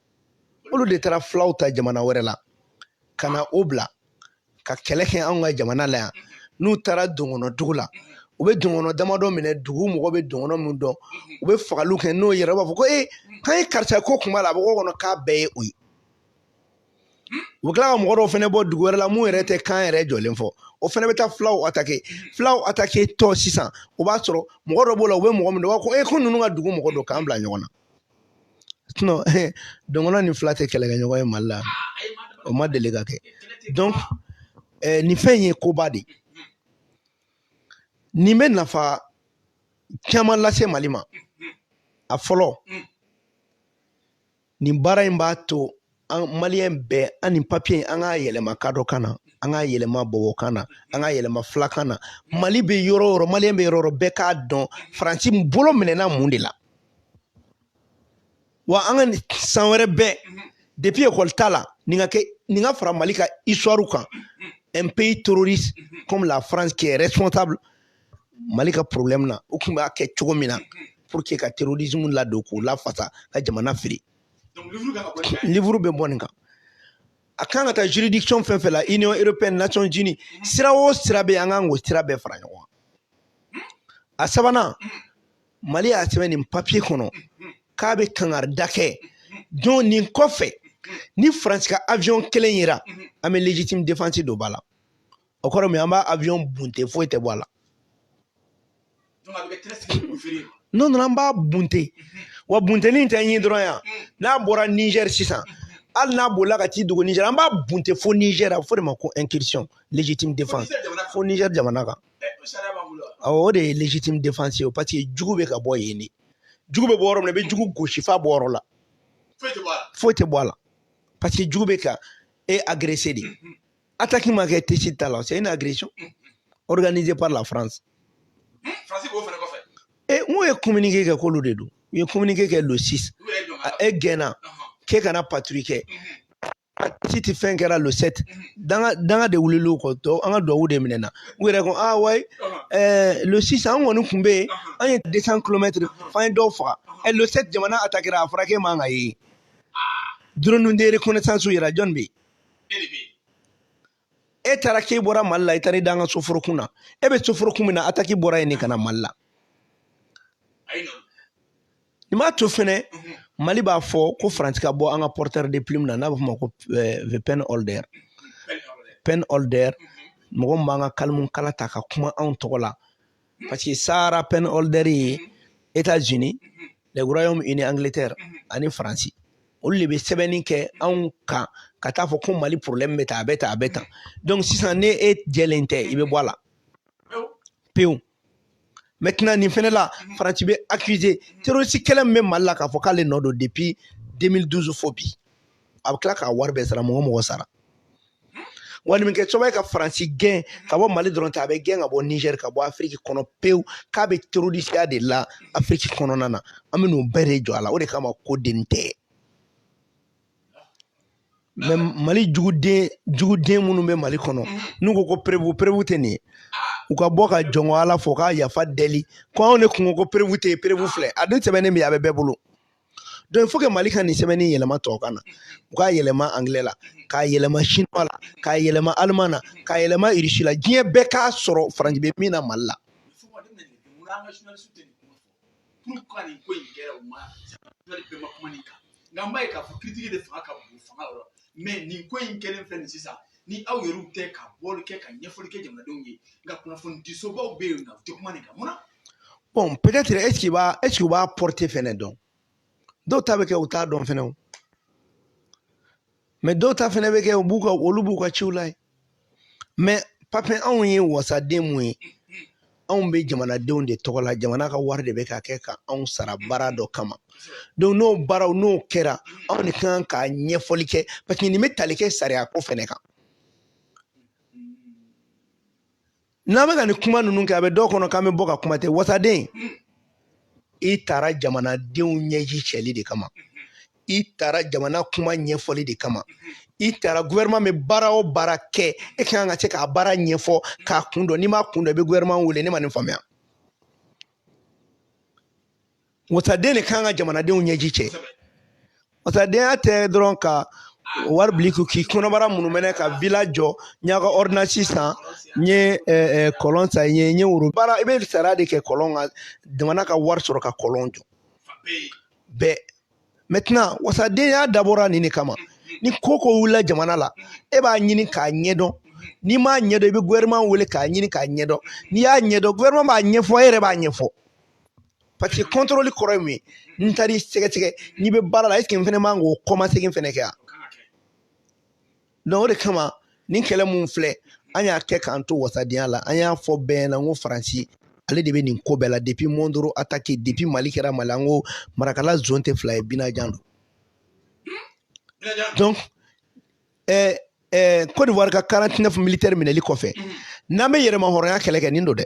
olu de taara fulaw ta jamana wɛrɛ la ka na o bila ka kɛlɛ kɛ anw ka jamana la yan n'u taara dɔgɔnɔ dugu la u bɛ dɔgɔnɔ damadɔ minɛ dugu mɔgɔ bɛ dɔgɔnɔ min dɔn u bɛ fagali kɛ n'o yɛrɛ b'a fɔ ko ee k'an ye karisa ko kun b'a la a bɛ ko kɔnɔ k'a bɛɛ ye o ye u bɛ tila ka mɔgɔ dɔw fana bɔ dugu wɛrɛ la mun yɛrɛ tɛ kan yɛrɛ jɔlen fɔ o fana bɛ taa fulaw atake fulaw atake donc sisan o b'a sɔrɔ mɔgɔ dɔ b'o la u bɛ mɔgɔ min dɔn u b'a fɔ ko ee ko ninnu ka dugu mɔgɔ don k'an bila ɲɔgɔn na dɔgɔnɔ ni fila tɛ kɛlɛkɛɲɔgɔn ye mali la o ma deli ka kɛ donc nin fɛn in ye koba de ye nin bɛ nafa caman lase mali ma a fɔlɔ nin baara in b'a to an maliyɛn bɛɛ an nin papiye in an k'a yɛlɛma kadɔ kan na an k'a yɛlɛma bɔbɔ kan na an k'a yɛlɛma filakan na mali bɛ yɔrɔ o yɔrɔ maliyɛn bɛ yɔrɔ o yɔrɔ bɛɛ k'a dɔn faransi bolo minɛna mun de la wa an ka san wɛrɛ bɛɛ depuis ekɔli ta la nin ka kɛ nin ka fara mali ka histoire kan un pays terroriste comme la france qui est responsable mali ka problème na u tun b'a kɛ cogo min na pour que ka terrorisme ladon k'u lafasa ka jamana fili livuru bɛ bɔ nin kan a kan ka taa juridiction fɛn o fɛn la union européenne nations unies sira o sira bɛ an kan k'o sira bɛɛ fara ɲɔgɔn kan a sabanan mali y'a sɛbɛn nin papiye kɔnɔ k'a bɛ kangarida kɛ don nin kɔfɛ ni faransi ka avion kelen yera an bɛ légitime défense don ba la o kɔrɔ min an b'a avion bunte foyi tɛ bɔ a la n'o nana an b'a bunte wa bunteni in tɛ ɲi dɔrɔn yan n'a bɔra nizɛri sisan hali n'a bolila ka t'i dogo nizɛri an b'a bunte fo nizɛri a bɛ fɔ o de ma ko incursion légitime défense fo nizɛri jamana kan awɔ o de ye légitime défense ye parce que jugu bɛ ka bɔ yen de jugu bɛ bɔ yɔrɔ min na i bɛ jugu gosi f'a bɔ yɔrɔ la foyi tɛ bɔ a la parce que jugu bɛ ka e agressé de Attaque ma kɛ Tessit ta la, c'est une agression organisée par la France. Hmm, France b'o fana kɔfɛ. E n'u ye communiqué kɛ k'olu de don, u ye communiqué kɛ le 6. E gɛnna k'e kana patrouille kɛ. Tessit fɛn kɛra le 7 danga danga de wulila u kɔ tɔ an ka duwawu de minɛna u yɛrɛ ko ah wayi ɛɛ le 6 an kɔni tun bɛ yen an ye 200 kilomɛtiri f'an ye dɔw faga ɛ le 7 jamana atakera a fɔra k'e man ka ye drone de reconnaissance yɛrɛ jɔni bɛ yen e taara k'e bɔra mali la i taara i da an ka soforokun na e bɛ soforokun min na ataki bɔra yen de ka na mali la nin b'a to fɛnɛ mali b'a fɔ ko faransi ka bɔ an ka porteur de plume na n'a bɛ f'o ma ko the pen holder pen holder mɔgɔ min b'an ka kalimu kala ta ka kuma anw tɔgɔ la parce que sahara pen holder ye états unis le royaume uni angleterre ani faransi olu de bɛ sɛbɛnni kɛ anw kan ka taa fɔ ko mali problème bɛ tan a bɛ tan a bɛ tan donc sisan ne e jɛlen tɛ i bɛ bɔ a la pewu maintenant nin fɛnɛ la faransi bɛ accusé terroriste kɛlɛ min bɛ mali la k'a fɔ k'ale nɔ don depuis 2012 fo bi a bɛ tila k'a wari bɛɛ sara mɔgɔ mɔgɔ sara wa nin bɛ kɛ sababu ye ka faransi gɛn ka bɔ mali dɔrɔn tɛ a bɛ gɛn ka bɔ nizɛri ka bɔ afiriki kɔnɔ pewu k'a bɛ terorisiya de la afiriki kɔnɔna na an bɛ n'o bɛɛ de jɔ a la o de kama ko den tɛ mais mali juguden juguden minnu bɛ mali kɔnɔ n'u ko ko preuve preuve tɛ nin ye u ka bɔ ka jɔn ko ala fɔ k'a yafa deli ko anw de kun ko ko preuve tɛ yen preuve filɛ a dun sɛbɛnnen bɛ a bɛ bɛɛ bolo donc il faut que mali ka nin sɛbɛnni yɛlɛma tɔw kan na u k'a yɛlɛma angilɛ la k'a yɛlɛma chinois la k'a yɛlɛma allemand na k'a yɛlɛma irisi la diɲɛ bɛɛ k'a sɔrɔ faransi bɛ min na mali la nka n b'a ye k'a fɔ kiritigi de fanga ka bon fanga yɔrɔ mais nin ko in kɛlen filɛ nin sisan ni aw yɛrɛw tɛ ka bɔli kɛ ka ɲɛfɔli kɛ jamanadenw ye nka kunnafoni disobaw bɛ yen nka u tɛ kuma nin kan mun na bon peut-être est-ce qu'u b'a est-ce qu'u b'a portée fɛnɛ dɔn dɔw ta bɛ kɛ u t'a dɔn fɛnɛ o mais dɔw ta fɛnɛ bɛ kɛ u b'u ka olu b'u ka ciw la ye mais papiye anw ye wasaden mun ye anw bɛ jamanadenw de tɔgɔ la jamana ka wari de bɛ ka kɛ ka anw sara baara dɔ kama donc n'o baaraw n'o kɛra anw de kan ka ɲɛfɔli kɛ parce que nin bɛ tali kɛ sariya ko fɛnɛ kan n'an bɛ ka nin kuma ninnu kɛ a bɛ dɔw kɔnɔ k'an bɛ bɔ ka kuma ten wasaden i taara jamanadenw ɲɛji cɛli de kama i taara jamana kuma ɲɛfɔli de kama i taara gouvernement bɛ baara o baara kɛ e ka kan ka se k'a baara ɲɛfɔ k'a kun dɔn n'i m'a kun dɔn i bɛ gouvernement wele ne ma nin faamuya wasaden de kan ka jamanadenw ɲɛji cɛ wasadenya tɛ dɔrɔn ka wari bili ko k'i kɔnɔbara munumɛnɛ ka villa jɔ n y'a ka ordonnance san n ye kɔlɔn sen n ye n ye woro baara i bɛ sariya de kɛ kɔlɔn ka jamana ka wari sɔrɔ ka kɔlɔn jɔ bɛɛ maintenant wasadenya dabɔra nin de kama ni ko ko wulila jamana la e b'a ɲini k'a ɲɛdɔn n'i m'a ɲɛdɔn i bɛ gouvernement wele k'a ɲini k'a ɲɛdɔn n'i y'a ɲɛdɔn gouvernement b'a ɲɛfɔ e yɛrɛ b'a ɲɛfɔ parce que contrôle kɔrɔ ye mun ye n taar'i sɛgɛsɛgɛ n'i bɛ baara la est-ce que n fɛnɛ man k'o kɔmasegin fɛnɛ kɛ yan donc o de kama nin kɛlɛ mun filɛ an y'a kɛ k'an to wasadenya la an y'a fɔ bɛɛ ɲɛna n ko faransi ale de bɛ nin ko bɛɛ la depuis mondoro attaque depuis mali kɛra mali an ko marakala zone tɛ fila ye binajan don donc eh, eh, Côte d'Ivoire ka 49 militaires minɛli kɔfɛ n'an bɛ yɛrɛmahɔrɔnya kɛlɛ kɛ nin don dɛ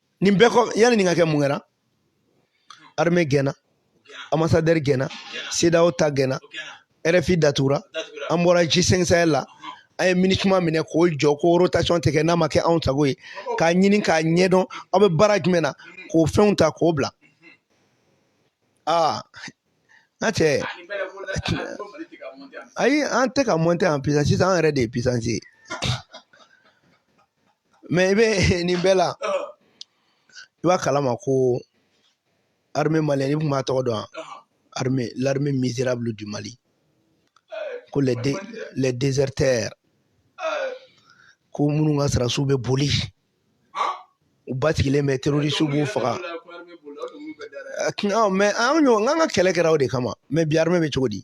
nin bɛɛ kɔ yani nin ka kɛ mun kɛra armée gɛnna ambassadeur gɛnna CEDEAO ta gɛnna RFI datugura an bɔra G5 Sahel la an ye MINUSMA minɛ k'o jɔ ko rotation tɛ kɛ n'a ma kɛ anw sago ye k'a ɲini k'a ɲɛdɔn aw bɛ baara jumɛn na k'o fɛnw ta k'o bila aa n ka cɛ ayi an tɛ ka monter en puissance sisan an yɛrɛ de ye puissance ye mais i bɛ nin bɛɛ la i b'a kalama ko armée malienne i tun b'a tɔgɔ dɔn l'armée misérable du Mali ko les, dé, les déserteurs ko minnu ka sarasiw bɛ boli u basigilen bɛ terorisiw b'u faga mais an ka an ka kɛlɛ kɛra o de kama mais bi armée bɛ cogo di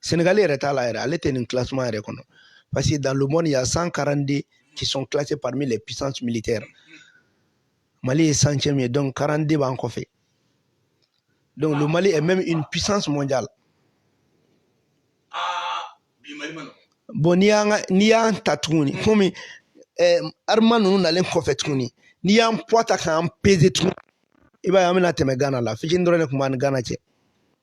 Sénégal yɛrɛ t'a la yɛrɛ ale tɛ nin classement yɛrɛ kɔnɔ parce que dans le monde il y a 142 qui sont classés parmi les puissances militaires Mali ye centième ye donc 42 b'an kɔfɛ donc le Mali est même une puissance mondiale bon n'i y'an n'i y'an ta tuguni komi eh, armes ninnu nalen kɔfɛ tuguni n'i y'an poids ta k'an peser tuguni i b'a ye an bɛna tɛmɛ Ghana la fitini dɔrɔn de tun b'an ni Ghana cɛ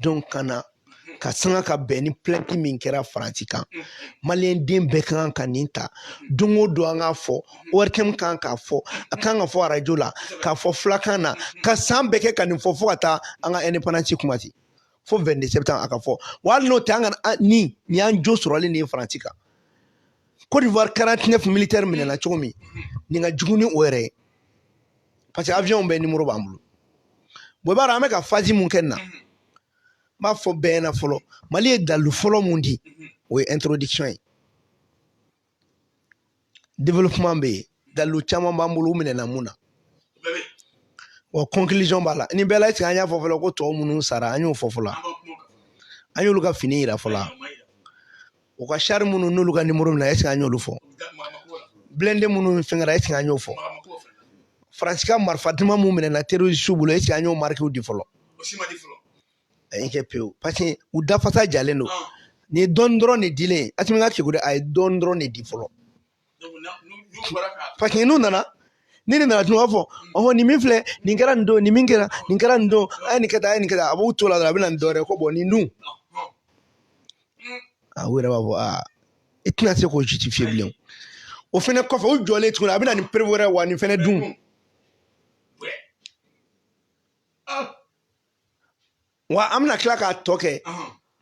donc ka na k'a sanga ka bɛn ni plainte min kɛra faransi kan maliyɛnden bɛɛ ka kan ka nin ta don o don an k'a fɔ ORTM kan k'a fɔ a kan k'a fɔ arajo la k'a fɔ fulakan na ka san bɛɛ kɛ ka nin fɔ fo ka taa an ka indépendance kuma ten fo 22 septembre a ka fɔ wa hali n'o tɛ an ka ni nin y'an jo sɔrɔlen nin ye faransi kan Côte d'Ivoire 49 militaires minɛna cogo min nin ka jugu ni o yɛrɛ ye parce que avion bɛɛ numéro b'an bolo bon i b'a dɔn an bɛ ka phase mun kɛ nin na n b'a fɔ bɛɛ ɲɛna fɔlɔ mali ye dalilu fɔlɔ mun di o ye introduction ye développement bɛ yen dalilu caman b'an bolo u minɛna mun na wa conclusion b'a la nin bɛɛ la est-ce que an y'a fɔ fɔlɔ ko tɔw minnu sara an y'o fɔ fɔlɔ an y'olu ka fini yira fɔlɔ u ka char minnu n'olu ka numéro minɛ est-ce que an y'olu fɔ blindé minnu fɛnkɛra est-ce que an y'o fɔ faransi ka marifa duman minnu minɛna terrorisiw bolo est-ce que an y'o marikiw di fɔlɔ ayi kɛ pewu parce que u dafasa jalen don nin dɔɔni dɔrɔn de dilen asimi ka kegun dɛ a ye dɔɔni dɔrɔn de di fɔlɔ parce que n'u nana ni nin nana tun b'a fɔ ɔhɔn nin min filɛ nin kɛra nin don nin min kɛra nin kɛra nin don a ye nin kɛ tan a ye nin kɛ tan a b'u to la dɔrɔn a bɛ na ni dɔ wɛrɛ ko bon nin dun a u yɛrɛ b'a fɔ aa i tɛna se k'o justifier bilen o fɛnɛ kɔfɛ u jɔlen tuguni a bɛ na ni preuve wɛrɛ wa nin fɛnɛ dun wa an bɛna tila k'a tɔ kɛ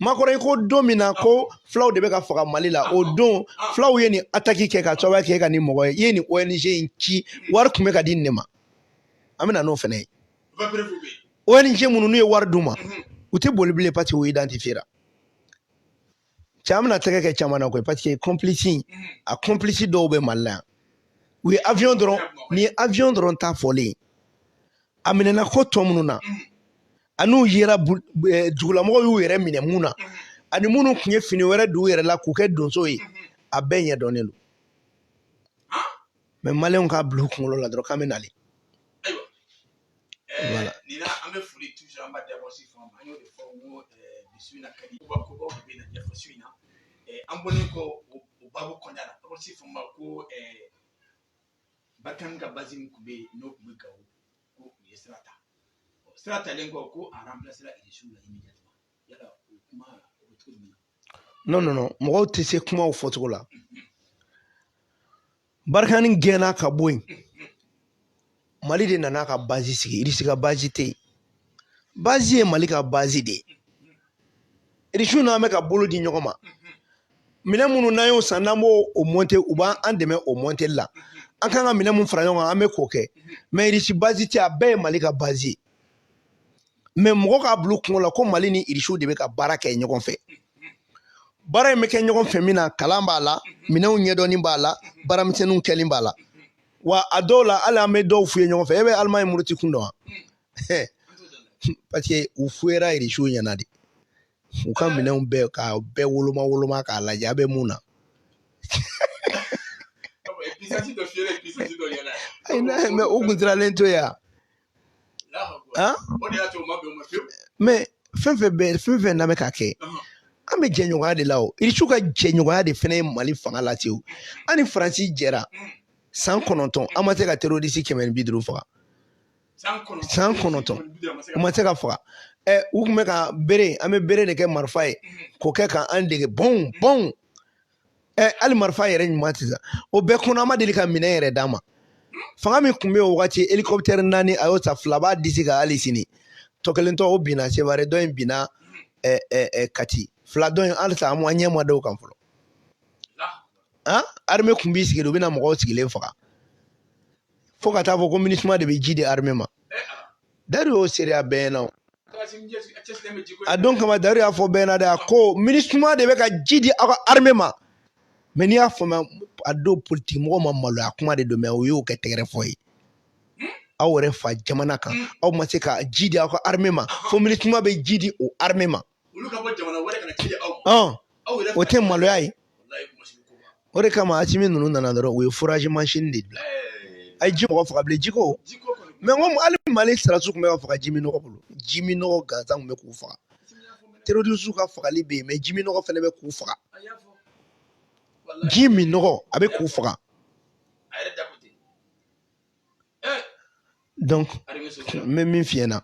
makɔrɔ i ko don min na ko fulaw de bɛ ka faga mali la o don fulaw ye nin ataki kɛ ka sababuya kɛ ka nin mɔgɔ ye i ye nin ong in ci wari tun bɛ ka di nin de ma an bɛna n'o fɛnɛ ye ong minnu n'u ye wari d'u ma u tɛ boli bilen parce que u identifiera cɛ an bɛna tɛgɛ kɛ caman na koyi parce que kɔnpilisi a kɔnpilisi dɔw bɛ mali la yan u ye avion dɔrɔn ni ye avion dɔrɔn ta fɔlen a minɛna ko tɔ minnu na an'u yera dugulamɔgɔw y'u yɛrɛ minɛ mun na ani minnu tun ye fini wɛrɛ don u yɛrɛ la k'u kɛ donso ye a bɛɛ ɲɛ dɔnnen don mɛ maliyɛnw k'a bila u kunkolo la dɔrɔn k'an bɛ nali Voilà. Nin na an bɛ foli toujours an b'a dabɔsi fɔ an y'o de fɔ n ko bi su in na ka di kobaw de bɛna ɲɛfɔ su in na an bɔlen kɔ o babu kɔnɔna la dabɔsi fɔ ma ko barikani ka bazi min tun bɛ yen n'o tun bɛ gawo ko u ye sira ta sira talen kɔ ko a ranpilasera irisiw la immédiatement yala o kuma o bɛ cogo jumɛn na non non non mɔgɔw tɛ se kumaw fɔcogo la barikani gɛnna ka bɔ yen mali de nana ka bazi sigi irisi ka bazi tɛ yen bazi ye mali ka bazi de ye irisiw n'an bɛ ka bolo di ɲɔgɔn ma minɛn minnu n'an y'o san n'an b'o o mɔnte u b'an dɛmɛ o mɔnteli la an kan ka minɛn mun fara ɲɔgɔn kan an bɛ k'o kɛ mɛ irisi bazi tɛ a bɛɛ ye mali ka bazi ye mɛ mɔgɔ k'a bil'u kunkolo la ko mali ni irisiw de bɛ ka baara kɛ ɲɔgɔn fɛ baara in bɛ kɛ ɲɔgɔn fɛ min na kalan b'a la minɛnw ɲɛdɔnni b'a la baaramisɛnninw kɛli b'a la wa a dɔw la hali an bɛ dɔw f'u ye ɲɔgɔn fɛ e bɛ alimaɲi muruti kun dɔn wa parce que u fuyera irisiw ɲɛ na de u ka minɛnw bɛɛ ka bɛɛ woloma woloma k'a lajɛ a bɛ mun na ayi n'a ye mɛ u kun siralen to yan mɛ fɛn fɛn bɛ fɛn fɛn n'an bɛ ka kɛ an bɛ jɛɲɔgɔnya de la o irisi ka jɛɲɔgɔnya de fɛnɛ ye mali fanga la ten an ni faransi jɛra san kɔnɔntɔn an ma se ka terorisi kɛmɛ ni bi duuru faga san kɔnɔntɔn u ma se ka faga ɛ u tun bɛ ka bere an bɛ bere de kɛ marifa ye k'o kɛ k'an dege bɔn bɔn ɛ hali marifa yɛrɛ ɲuman tɛ sa o bɛɛ kɔnɔ a ma deli ka minɛn yɛrɛ d'an ma fanga min tun bɛ yen o wagati hélicoptère naani a y'o ta fila b'a disi kan hali sini tɔ kelen tɔ o binna seware dɔ in binna ɛ ɛ ɛ kati fila dɔ in halisa an ɲɛ ma da o kan fɔlɔ han arme tun b'i sigi de u bɛ na mɔgɔw sigilen faga fo ka taa fɔ ko minisuma de bɛ ji di arme ma dayiru y'o seereya bɛɛ ɲɛna a don kama dayiru y'a fɔ bɛɛ ɲɛna dɛ a ko minisuma de bɛ ka ji di aw ka arime ma mɛ n'i y'a faamuya a don politiki mɔgɔw ma maloya kuma de don mɛ o y'o kɛ tɛgɛrɛ fɔ ye aw yɛrɛ fa jamana kan aw ma se ka ji di aw ka arime ma fo minisuma bɛ ji di o arime ma o tɛ maloya ye o de kama asimi ninnu nana dɔrɔn u ye furaji mansin de bila a ye ji mɔgɔ faga bilen jiko mɛ ko hali mali sɔrɔdasiw tun bɛ ka faga ji minnɔgɔ bolo ji minnɔgɔ gansan tun bɛ k'u faga terorisiw ka fagali bɛ yen mɛ ji minnɔgɔ fana bɛ k'u faga ji minnɔgɔ a bɛ k'u faga donc n bɛ min f'i ɲɛna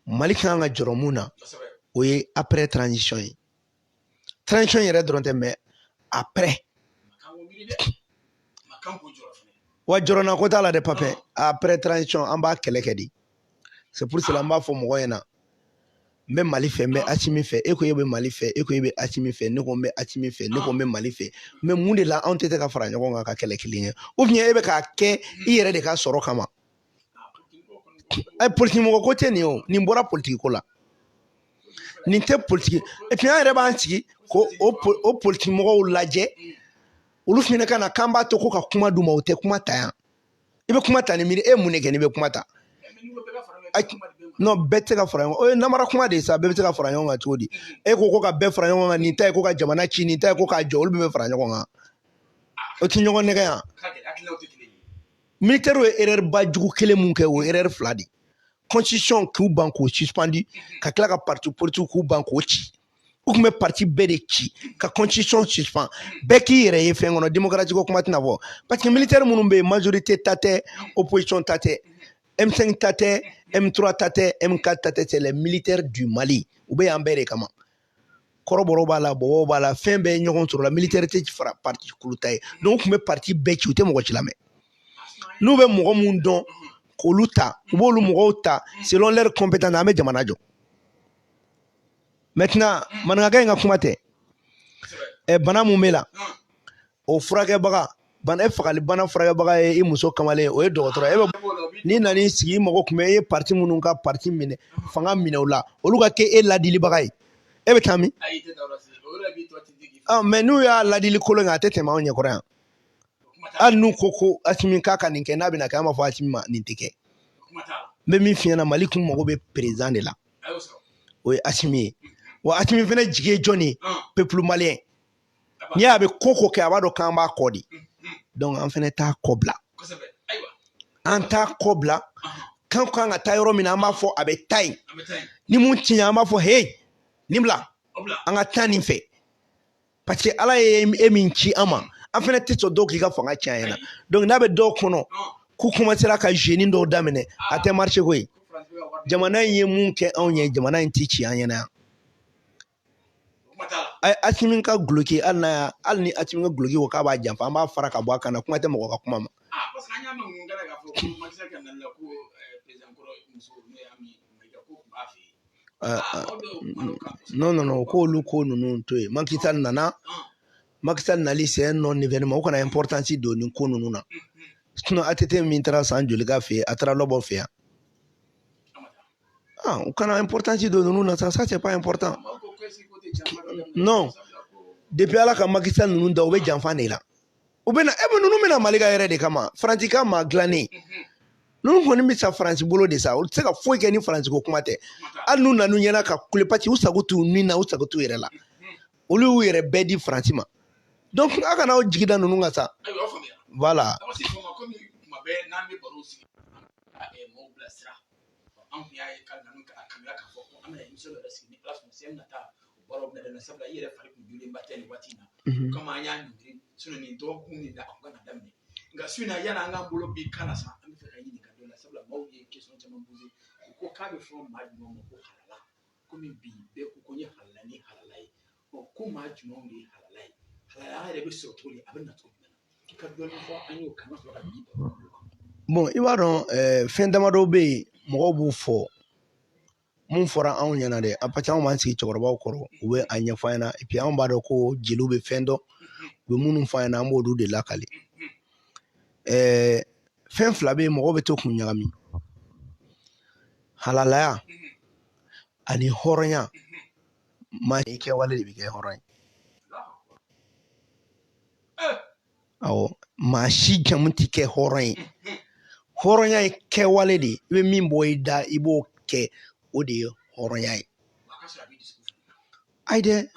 mali ka kan ka jɔrɔ mun na o ye après transition ye transition yɛrɛ dɔrɔn tɛ mɛ après wa jɔrɔnanko t'a la dɛ papin après transition an b'a kɛlɛ kɛ de c'est pour cela an b'a fɔ mɔgɔw ɲɛna n bɛ mali fɛ n bɛ asimi fɛ e ko e bɛ mali fɛ e ko e bɛ asimi fɛ ne ko n bɛ asimi fɛ ne ko n bɛ mali fɛ mɛ mun de la anw tɛ se ka fara ɲɔgɔn kan ka kɛlɛ kelen kɛ ou bien e bɛ k'a kɛ i yɛrɛ de ka sɔrɔ kama ɛ politiki mɔgɔ ko tɛ nin o nin bɔra politiki ko la nin tɛ politiki epi an yɛrɛ b'an sigi ko o politiki mɔgɔw lajɛ olu fana ka na k'an b'a to ko ka kuma d'u ma o tɛ kuma ta yan i bɛ kuma ta ni miiri e ye mun de kɛ n'i bɛ kuma ta non bɛɛ tɛ se ka fara ɲɔgɔn kan o ye namara kuma de ye sa bɛɛ bɛ se ka fara ɲɔgɔn kan cogo di e ko ko ka bɛɛ fara ɲɔgɔn kan nin ta ye ko ka jamana ci nin ta ye ko k'a jɔ olu bɛɛ bɛ fara ɲɔgɔn kan o tɛ ɲɔgɔn nɛgɛn yan militɛriw ye erɛriba jugu kelen mun kɛ o ye erɛri fila de ye constitution k'u ban k'o suspandi ka tila ka parti politique k'u ban k'o ci u tun bɛ parti bɛɛ de ci ka constitution suspend bɛɛ k'i yɛrɛ ye fɛn kɔnɔ démocratie ko kuma tɛna fɔ parce que militaire minnu bɛ yen majorité ta tɛ opposition ta tɛ M5 ta tɛ M3 ta tɛ M4 ta tɛ c'est les militaires du Mali u bɛ yan bɛɛ de kama kɔrɔbɔrɔ b'a la bɔbɔw b'a la fɛn bɛɛ ɲɔgɔn sɔrɔ la militaire tɛ ci fara parti kulu ta ye donc u tun bɛ parti bɛɛ ci u tɛ mɔgɔ si lamɛn n'u bɛ mɔgɔ minnu dɔn k'olu ta u b'olu mɔgɔw ta selon leur compétence an bɛ jamana jɔ maintenant maninkakɛ in ka kuma tɛ ɛ bana mun b'e la o furakɛbaga bana e fagali bana furakɛbaga ye i muso kamalen o ye dɔgɔtɔrɔ ye n'i nana i sigi i mago tun bɛ e ye parti minnu ka parti minɛ fanga minɛ o la olu ka kɛ e ladilibaga ye e bɛ taa min ɔ mɛ n'u y'a ladili kolon kɛ a tɛ tɛmɛ anw ɲɛkɔrɔ yan hali n'u ko ko asimi k'a ka nin kɛ n'a bɛna kɛ an b'a fɔ asimi ma nin tɛ kɛ n bɛ min f'i ɲɛna mali kun mago bɛ perezidan de la o ye asimi ye wa asimi fana jigi ye jɔn ye pepulu maliyɛn n'i y'a bɛ ko ko kɛ a b'a dɔn k'an b'a kɔ de dɔnku an fana t'a kɔ bila an t'a kɔ bila k'an kan ka taa yɔrɔ min na an b'a fɔ a bɛ taa yen ni mun tiɲɛ an b'a fɔ he nin bila an ka taa nin fɛ paseke ala ye e min ci an ma an fana tɛ sɔn dɔw k'i ka fanga ci an ɲɛna donc n'a bɛ dɔw kɔnɔ k'u kɔmasera ka zeni dɔw daminɛ a tɛ marché koyi jamana in ye mun kɛ anw ye jamana in tɛ ci an ɲɛna yan a ye asimi ka duloki hali n'a y'a hali ni asimi ka duloki ko k'a b'a janfa an b'a fara ka bɔ a kan na kuma tɛ mɔgɔ ka kuma ma nɔnɔ u k'olu ko ninnu to yen maki sali nana maki sali nali c'est un non événement u kana importance don nin ko ninnu na sinɔn ATT min taara san joli k'a fɛ yen a taara lɔbɔ fɛ yan u kana importance don ninnu na sa ça c'est pas important non depi ala ka maki sali ninnu dan u bɛ janfa de la u bɛ na e bɛ ninnu bɛna mali ka yɛrɛ de kama faransi ka maa dilannen ninnu kɔni bɛ sa faransi bolo de sa olu tɛ se ka foyi kɛ ni faransi ko kuma tɛ hali n'u nan'u ɲɛna ka kule paseke u sago t'u ni na u sago t'u yɛrɛ la olu y'u yɛrɛ bɛɛ di faransi ma donc a kana aw jigi da ninnu kan sa voilà an kun y'a ye ka nanu ka kanuya k'a fɔ ko an bɛna émission yɛrɛ sigi ni Ala sɔnna semaine nata o baaraw bɛna daminɛ sabula i yɛrɛ fari kun jɔlenba tɛ nin waati in na o kama an y'a ɲɔngiri sinon nin dɔgɔkun nin na a kun ka na daminɛ nka su in na yanni an k'an bolo bin kalan na sa an b'a fɛ k'i ɲininka dɔ la sabula maaw ye question caman posé u ko k'a bɛ fɔ maa jumɛn ma ko halala komi bi bɛɛ ko ko n ye halala ni halala ye ɔ ko maa jumɛnw de ye halala ye halalaya yɛrɛ bɛ sɔrɔ cogo di a bɛ na cogo jumɛn na i ka dɔɔni fɔ an y'o kan ka sɔrɔ ka bin bon i b'a dɔn eh, fɛn damadɔ bɛ yen mɔgɔw b'u fɔ mun fɔra anw ɲɛna dɛ a parce que anw b'an sigi cɛkɔrɔbaw kɔrɔ u bɛ a ɲɛfɔ an ɲɛna epi anw b'a dɔn ko jeliw bɛ fɛn dɔn u bɛ minnu fɔ an ɲɛna an b'olu de lakali eh, fɛn fila bɛ yen mɔgɔw bɛ to k'u ɲagami halalaya ani hɔrɔnya maa i kɛwale de b'i kɛ hɔrɔn ye awɔ maa si jamu t'i kɛ hɔrɔn ye hɔrɔnya ye kɛwale de ye i bɛ min bɔ i da i b'o kɛ o de ye hɔrɔnya ye ayi dɛ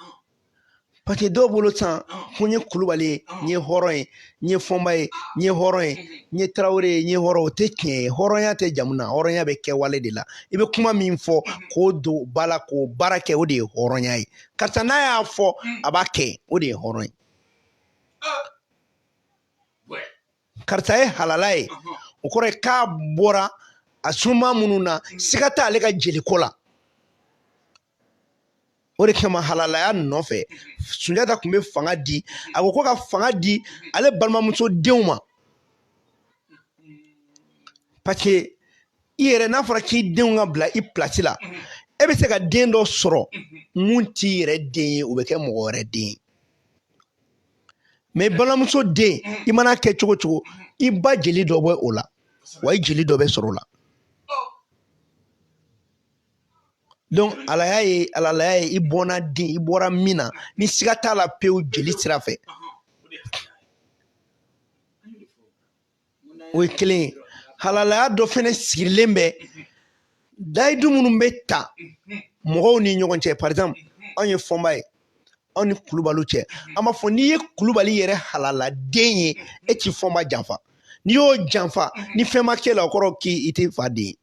paseke dɔw bolo san ko n ye kulubali ye n ye hɔrɔn ye n ye fɔnba ye n ye hɔrɔn ye n ye tarawele ye n ye hɔrɔn o tɛ tiɲɛ ye hɔrɔnya tɛ jamu na hɔrɔnya bɛ kɛwale de la i bɛ kuma min fɔ k'o don ba la k'o baara kɛ o de ye hɔrɔnya ye karisa n'a y'a fɔ a b'a kɛ o de ye hɔrɔn ye karisa ye halala ye o kɔrɔ ye k'a bɔra a sunba minnu na siga t'ale ka jeliko la o de kama halalaya nɔfɛ sunjata tun bɛ fanga di a ko ko ka fanga di ale balimamuso denw ma parce que i yɛrɛ n'a fɔra k'i denw ka bila i pilasi la e bɛ se ka den dɔ sɔrɔ mun t'i yɛrɛ den ye o bɛ kɛ mɔgɔ wɛrɛ den ye mɛ balimamuso den i mana kɛ cogo cogo i ba jeli dɔ bɛ o la wa i jeli dɔ bɛ sɔrɔ o la halalaya ye halalaya ye i bɔnna den i bɔra min na ni siga t'a la pewu jeli sira fɛ o ye kelen ye halalaya dɔ fɛnɛ sigilen bɛ layidu minnu bɛ ta mɔgɔw ni ɲɔgɔn cɛ par exemple anw ye fɔnba ye anw ni kulubaliw cɛ an b'a fɔ n'i ye kulubali yɛrɛ halala den ye e tɛ fɔnba janfa n'i y'o janfa ni fɛn ma k'e la o kɔrɔ k'i tɛ fa den ye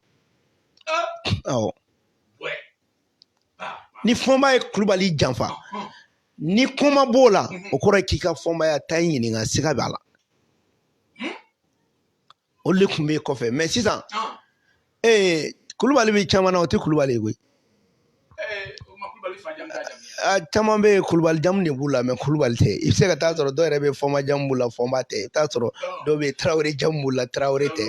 awɔ ni fɔnba ye kulubali janfa ni ko ma b'o la o kɔrɔ k'i ka fɔnbaya ta in ɲininka siga b'a la o de tun bɛ kɔfɛ mɛ sisan ee kulubali bɛ caman na u tɛ kulubali ye koyi caman bɛ yen kulubali jamu de b'u la mɛ kulubali tɛ i bɛ se ka taa sɔrɔ dɔw yɛrɛ bɛ fɔnba jamu b'u la fɔnba tɛ i bɛ taa sɔrɔ dɔw bɛ yen tarawele jamu b'u la tarawele tɛ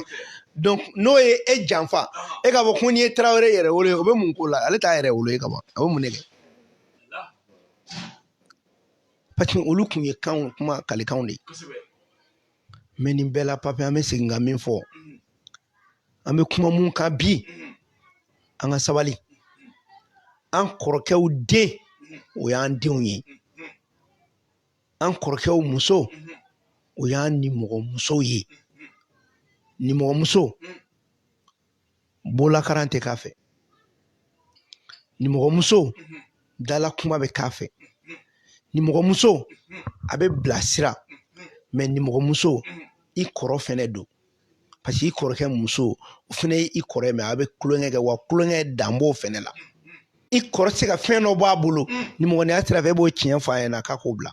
donc n'o ye e janfa e k'a fɔ ko n'i ye tarawele yɛrɛ wolo ye o bɛ mun k'o la ale t'a yɛrɛ wolo ye ka ban a bɛ mun de kɛ paseke olu tun ye kanw kuma kalikanw de ye mɛ nin bɛɛ la papi an bɛ segin ka min fɔ an bɛ kuma mun kan bi an ka sabali an kɔrɔkɛw den o y'an denw ye an kɔrɔkɛw muso o y'an nimɔgɔmusow ye nimɔgɔmuso bolakaran tɛ k'a fɛ nimɔgɔmuso dala kuma bɛ k'a fɛ nimɔgɔmuso a bɛ bilasira mɛ nimɔgɔmuso i kɔrɔ fɛnɛ don parce que i kɔrɔkɛ muso o fɛnɛ ye i kɔrɔ ye mɛ a bɛ tulonkɛ kɛ wa tulonkɛ dan b'o fɛnɛ la i kɔrɔ tɛ se ka fɛn dɔ bɔ a bolo nimɔgɔniya sira fɛ e b'o tiɲɛ fɔ a ɲɛna k'a k'o bila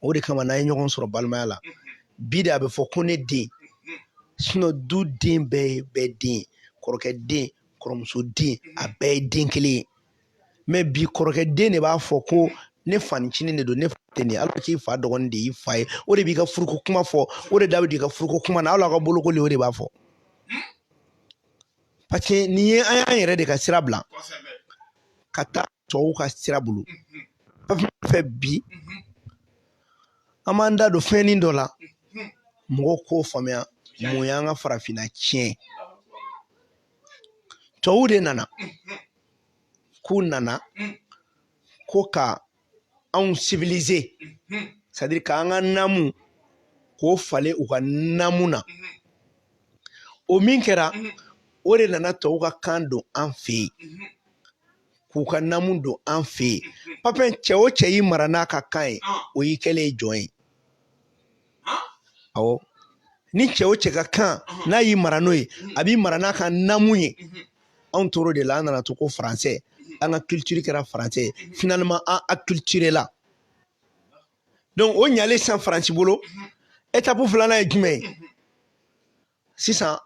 o de kama n'an ye ɲɔgɔn sɔrɔ balimaya la bi de a bɛ fɔ ko ne den sinon du den bɛɛ ye bɛɛ den kɔrɔkɛ den kɔrɔmuso den a bɛɛ ye den kelen ye mais bi kɔrɔkɛ den de b'a fɔ ko ne fanicinin de don ne fa tɛ nin ye alors k'i fa dɔgɔnin de y'i fa ye o de b'i ka furuko kuma fɔ o de da bɛ don i ka furuko kuma na hali aw ka bolokoli o de b'a fɔ parce que nin ye an y'an yɛrɛ de ka sira bila ka taa tɔw ka sira bolo fɛ bi an b'an da don fɛnnin dɔ la mɔgɔw k'o faamuya mun y'an ka farafinna tiɲɛ tɔw de nana k'u nana ko ka anw civiliser c'est à dire k'an ka namu k'o falen u ka namu na o min kɛra o de nana tɔw ka kan don an fɛ yen k'u ka namu don an fɛ yen papiye cɛ o cɛ y'i mara n'a ka kan ye o y'i kɛlen ye jɔn ye awɔ ni cɛ o cɛ ka kan n'a y'i mara n'o ye a b'i mara n'a ka namu ye anw tor'o de la an nana to ko faransɛ an ka culture kɛra faransɛ ye finalement an acculturé la donc o ɲalen sisan faransi bolo étape filanan ye jumɛn ye sisan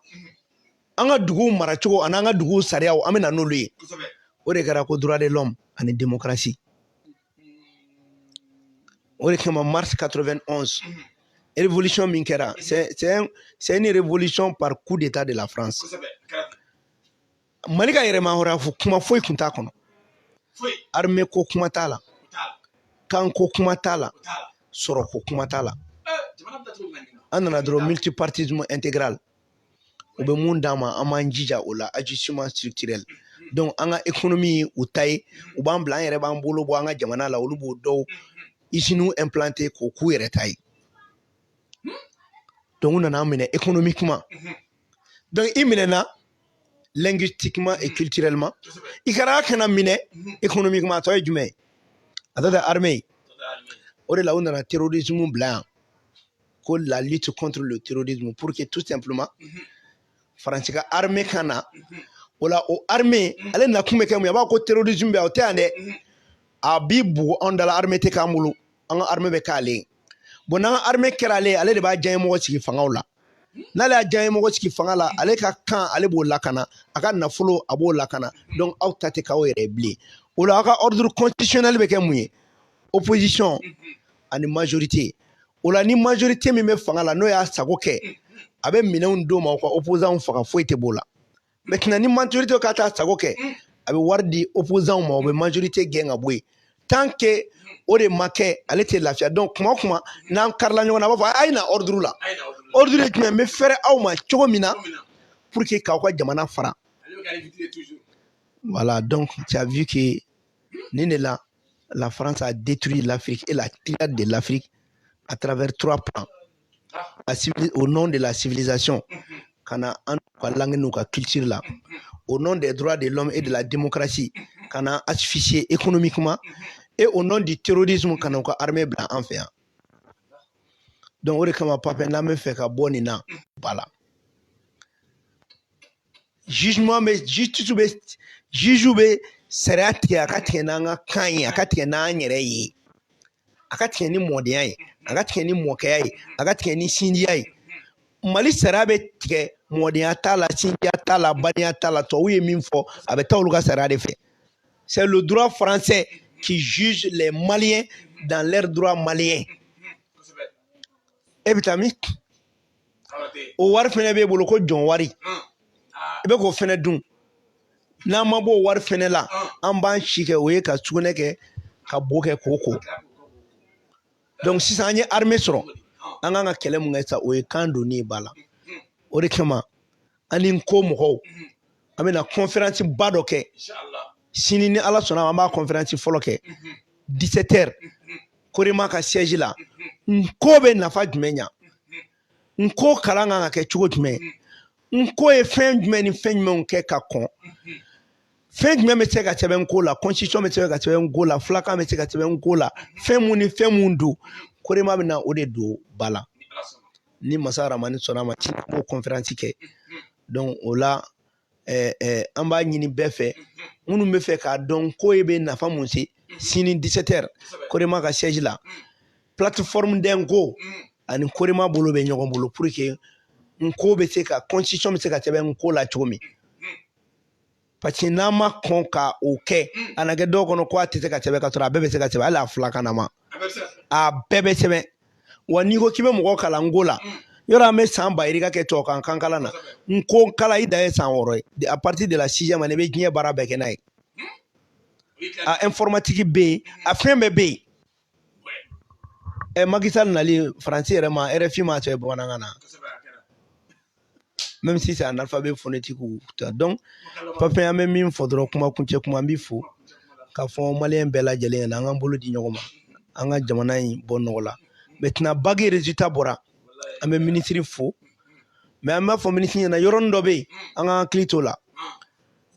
an ka duguw maracogo ani an ka duguw sariyaw an bɛ na n'olu ye o de kɛra ko droit de l'homme ani démocratie o de kama mars 91 révolution min kɛra c'est une révolution par coup d'état de la France mali ka yɛrɛmahɔrɔnya fo kuma foyi kun t'a kɔnɔ armée ko kuma t'a la kan ko kuma t'a la sɔrɔ ko kuma t'a la an nana dɔrɔn multipartisme intégral u bɛ mun d'an ma an b'an jija o la ajustement structurel donc an ka économie u ta ye u b'an bila an yɛrɛ b'an bolo bɔ an ka jamana la olu b'o dɔw usines implanter k'o k'u yɛrɛ ta ye donc u nana an minɛ économiquement donc i minɛna linguistiquement et culturellement i kɛra ka na minɛ économiquement a tɔ ye jumɛn ye a tɔ tɛ armée ye o de la u nana terrorisme bila yan ko la lutte contre le terrorisme pour que tout simplement faransi ka armée ka na o la o armée ale nakun bɛ kɛ mun ye a b'a ko terrorisme bɛ yan o tɛ yan dɛ a b'i bugu anw dala armée tɛ k'an bolo an ka armée bɛ k'ale ye bon n'an ka armée kɛra ale ye ale de b'a diyaɲemɔgɔ sigi fangaw la n'ale y'a diyaɲemɔgɔ sigi fanga la ale ka kan ale b'o lakana a ka nafolo a b'o lakana donc aw ta tɛ k'aw yɛrɛ ye bilen o la aw ka ordre constitutionnel bɛ kɛ mun ye opposition ani majorité o la ni majorité min bɛ fanga la n'o y'a sago kɛ a bɛ minɛnw d'o ma o ka opposants faga foyi tɛ b'o la maintenant ni majorité ka taa sago kɛ a bɛ wari di opozanw ma o bɛ majorité gɛn ka bɔ yen tant que o de ma kɛ ale tɛ lafiya donc kuma o kuma n'an karila ɲɔgɔn na a b'a fɔ a ye na ordre la ordre ye jumɛn n bɛ fɛrɛ aw ma cogo min na pour que k'aw ka jamana fara voilà donc tu as vu que nin de la la France a détruit l'Afrique et la triade de l'Afrique à travers trois plans au nom de la civilisation ka na an ka langue n'u ka culture la au nom des droits de l'homme et de la démocratie ka na an asphyxier économiquement et au nom du terrorisme ka na u ka armée bila an fɛ yan donc o de kama papier n'an bɛ fɛ ka bɔ nin na ba la jugement bɛ justice bɛ juge bɛ sariya tigɛ a ka tigɛ n'an ka kan ye a ka tigɛ n'an yɛrɛ ye a ka tigɛ ni mɔdenya ye a ka tigɛ ni mɔkɛya ye a ka tigɛ ni sinjiya ye mali sariya bɛ tigɛ mɔdenya t'a la sinjiya t'a la badenya t'a la tubabuw ye min fɔ a bɛ taa olu ka sariya de fɛ c'est le droit français qui juge les maliens dans leur droit malien e bɛ taa min o wari fɛnɛ b'e bolo ko jɔn wari i bɛ k'o fɛnɛ dun n'an ma b'o wari fɛnɛ la an b'an si kɛ o ye ka sugunɛ kɛ ka bo kɛ k'o ko donc sisan an ye armée sɔrɔ an kan ka kɛlɛ mun kɛ sa o ye kan donni ye ba la o de kama an ni nko mɔgɔw an bɛna kɔnferansi ba dɔ kɛ sini ni ala sɔnna an b'a kɔnferansi fɔlɔ kɛ disɛtɛri korema ka siège la nko bɛ nafa jumɛn ɲa nko kalan kan ka kɛ cogo jumɛn nko ye fɛn jumɛn ni fɛn jumɛnw kɛ ka kɔn fɛn jumɛn bɛ se ka sɛbɛn nko la constitution bɛ se ka sɛbɛn nko la fulakan bɛ se ka sɛbɛn nko la fɛn mun ni fɛn mun don korema bɛ na o de don ba la ni masa ramani sɔnna a ma sini an b'o kɔnferansi kɛ o la ɛɛ ɛɛ an b'a ɲini bɛɛ fɛ minnu bɛ fɛ k'a dɔn ko e bɛ nafa mun se sini 17h korema ka siège la plateforme de nko ani korema bolo bɛ ɲɔgɔn bolo pour que nko bɛ se ka constitution bɛ se ka sɛbɛn nko la cogo min parce que n'an ma kɔn ka o kɛ hmm. a na kɛ dɔw kɔnɔ ko a tɛ se ka sɛbɛn k'a sɔrɔ a bɛɛ bɛ se ka sɛbɛn hali a filakan nama a bɛɛ bɛ sɛbɛn wa n'i ko k'i bɛ mɔgɔ kalan nko la hmm. yɔrɔ an bɛ san ba yirika kɛ tubabukan kan kalan na nko kalan i dan ye san wɔɔrɔ ye à partir de la sixième année i bɛ diɲɛ baara bɛɛ kɛ n'a ye hmm. a informatique bɛ yen a fɛn bɛɛ bɛ yen ɛ Macky Sall nali faransi yɛrɛ ma RFI ma sɛbɛn bamanankan na même si c'est un alphabet phonétique ou ta donc papa an bɛ min fɔ dɔrɔn kuma kuncɛ kuma an b'i fo k'a fɔ maliyɛn bɛɛ lajɛlen ɲɛna an k'an bolo di ɲɔgɔn ma an ka jamana in bɔ nɔgɔ la maintenant bagi résultat bɔra an bɛ minisiri fo mais an b'a fɔ minisiri ɲɛna yɔrɔnin dɔ bɛ yen an ka hakili t'o la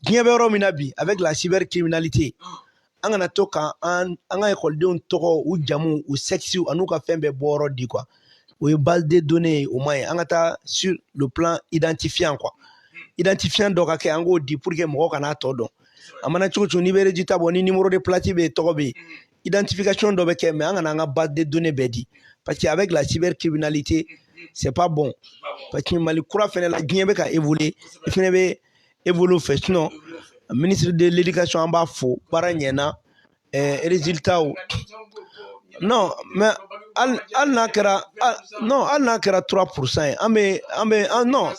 diɲɛ bɛ yɔrɔ min na bi avec la cybercriminalité an kana to ka an an ka ekɔlidenw tɔgɔ u jamu u sɛkisiw an'u ka fɛn bɛɛ bɔyɔrɔ di quoi o ye base de données ye o man ɲi an ka taa sur le plan identifiant quoi identifiant dɔ ka kɛ an k'o di pour que mɔgɔ kana tɔ dɔn a mana cogo cogo n'i bɛ résultat bɔ ni numéro de place bɛ yen tɔgɔ bɛ yen identification dɔ bɛ kɛ mais an kana an ka base de données bɛɛ di parce que avec la cybercriminalité c'est pas bon parce que mali kura fɛnɛ la diɲɛ bɛ ka évoluer i fɛnɛ bɛ évoluer fɛ sinon ministre de l'éducation an b'a fo baara ɲɛna ɛɛ résultatw non mais ali ali n'a kɛra non ali n'a kɛra trois pourcent ye an bɛ an bɛ an non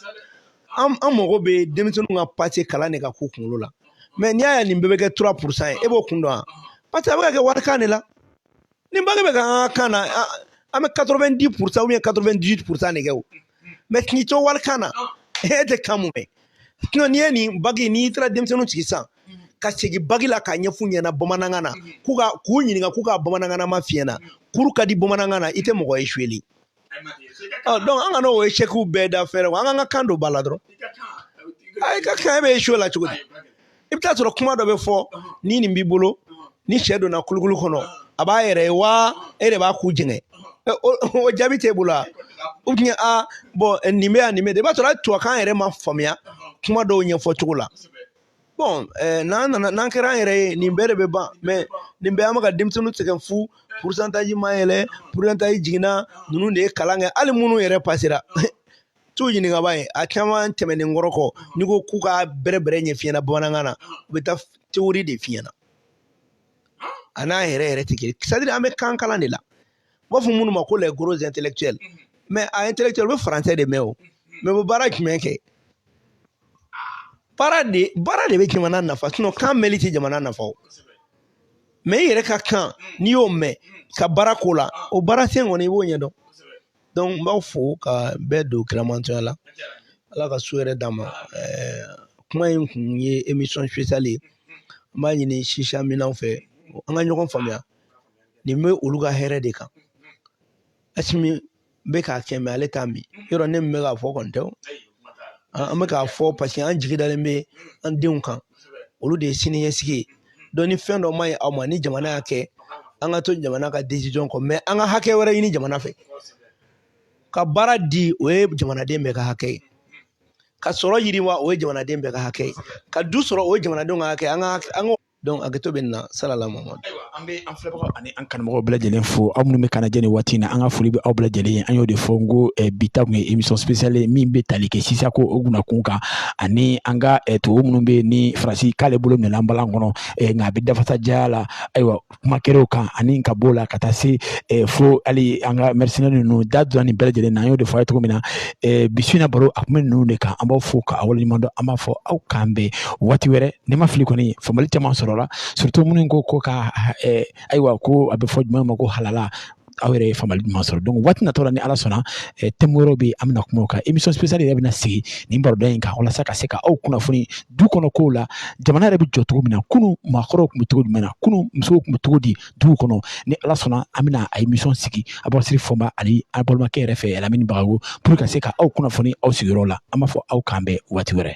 an mago bɛ denmisɛnninw ka pase kalan de ka k'u kunkolo la mais n'i y'a ye nin bɛɛ bɛ kɛ trois pourcent ye e b'o kun dɔn wa parce que a bɛ ka kɛ walikan de la ni bagi bɛ ka an ka kan na an bɛ quatre-vingt-dix pourcent ou bien quatre-vingt-dix-huit pourcent de kɛ o mais k'i to walikan na e tɛ kan mun mɛn sinon n'i ye nin bagi n'i taara denmisɛnninw sigi sisan ka segin bagi la k'a ɲɛf'u ɲɛna bamanankan na k'u ka k'u ɲininka k'u ka bamanankanma f'i ɲɛna cours ka di bamanankan na i tɛ mɔgɔ ye échoué an kan'o échecw bɛɛ da fɛrɛ wa an k'an ka kan don ba la dɔrɔn i ka kan e bɛ échouer la cogo di i bɛ taa sɔrɔ kuma dɔ bɛ fɔ ni nin b'i bolo ni sɛ donna kulukulu kɔnɔ a b'a yɛrɛ ye wa e de b'a ku jɛngɛ o jaabi t'e bolo wa ou bien bon nin bɛ yan nin bɛ i b'a sɔrɔ hali tubabukan yɛrɛ ma faamuya kuma dɔw ɲɛfɔ cogo la bon n'an n'an kɛra an yɛrɛ ye nin bɛɛ de bɛ ban mais nin bɛɛ an bɛ ka denmisɛnninw sɛgɛn fu pourcentage ma yɛlɛ pourcentage jiginna ninnu de ye kalan kɛ hali minnu yɛrɛ pasera t'u ɲininka ba ye a caman tɛmɛnen kɔrɔ kɔ n'i ko k'u ka bɛrɛ bɛrɛ ɲɛf'i ɲɛna bamanankan na u bɛ taa théorie de f'i ɲɛna a n'a yɛrɛ yɛrɛ tɛ kelen ye c'est à dire an bɛ kan kalan de la n b'a fɔ minnu ma ko les gros intellectuels mhm. mais a intellectuel u bɛ français de mɛn o mais u bɛ baara jumɛn kɛ baara de baara de bɛ jamana nafa sinon kan mɛnli tɛ jamana nafa o mais i yɛrɛ ka kan mhm. n'i y'o mɛn mhm. ka baara k'o la ah. o baara sen kɔni i b'o ɲɛdɔn donc n b'aw fo ka bɛɛ don kiramantɔya la ala ka su hɛrɛ d'an ma kuma in kun ye émission spéciale ye n b'a ɲini sisiya minanw fɛ an ka ɲɔgɔn faamuya nin bɛ olu ka hɛrɛ de kan asimi bɛ k'a kɛ mais ale t'a min yɔrɔ ne min bɛ k'a fɔ kɔni tɛ an bɛ k'a fɔ parce que an jigi dalen bɛ an denw kan olu de ye sini ɲɛsigi ye donc ni fɛn dɔ ma ɲɛ aw ma ni jamana y'a kɛ an ka to jamana ka décision kɔ mais an ka hakɛ wɛrɛ ɲini jamana fɛ ka baara di o ye jamanaden bɛɛ ka hakɛ ye ka sɔrɔ yiriwa o ye jamanaden bɛɛ ka hakɛ ye ka du sɔrɔ o ye jamanadenw ka hakɛ an ka an ka Donc hakɛto bɛ nin na salala Muhamadu. Ayiwa an bɛ an filɛbagaw ani an kanubagaw bɛɛ lajɛlen fo aw minnu bɛ k'an lajɛ nin waati in na an ka foli bɛ aw bɛɛ lajɛlen ye an y'o de fɔ n ko eh, bi ta tun ye émission spéciale ye min bɛ tali kɛ sisako o gunnakun kan ani an ka eh, tubabu minnu bɛ yen ni faransi k'ale bolo minɛna an balan kɔnɔ eh, nka a bɛ dafasajaya la ayiwa kuma kɛr'o kan ani ka b'o la ka taa se eh, fo hali an ka mercenaire ninnu da donna nin bɛɛ lajɛlen na an y'o de fɔ a ye cogo min na eh, bi su in na baro a tun bɛ ninnu de kan an b'aw fo k'aw waleɲuman dɔn an b'a fɔ aw k'an bɛn waati wɛrɛ ni n ma fili kɔni faamuyali caman sɔrɔla surtout minnu ko ko ka eh, ayiwa ko a bɛ fɔ jumɛn ma ko halala aw yɛrɛ ye faamuyali ɲuman sɔrɔ donc waati natɔ la ni ala sɔnna eh, thème wɛrɛw bɛ yen an bɛna kuma o kan émission spéciale yɛrɛ bɛna sigi nin baroda in kan walasa ka se ka aw kunnafoni du kɔnɔ kow la jamana yɛrɛ bɛ jɔ cogo min na kunu maakɔrɔw tun bɛ cogo jumɛn na kunu musow tun bɛ cogo di duw kɔnɔ ni ala sɔnna an bɛna a émission sigi abɔsiri fɔnba ani a balimakɛ yɛrɛ fɛ lamini bagayɔgɔ pour ka se ka aw kunnafoni aw sigiyɔrɔ la an b'a fɔ aw k'an bɛn waati wɛrɛ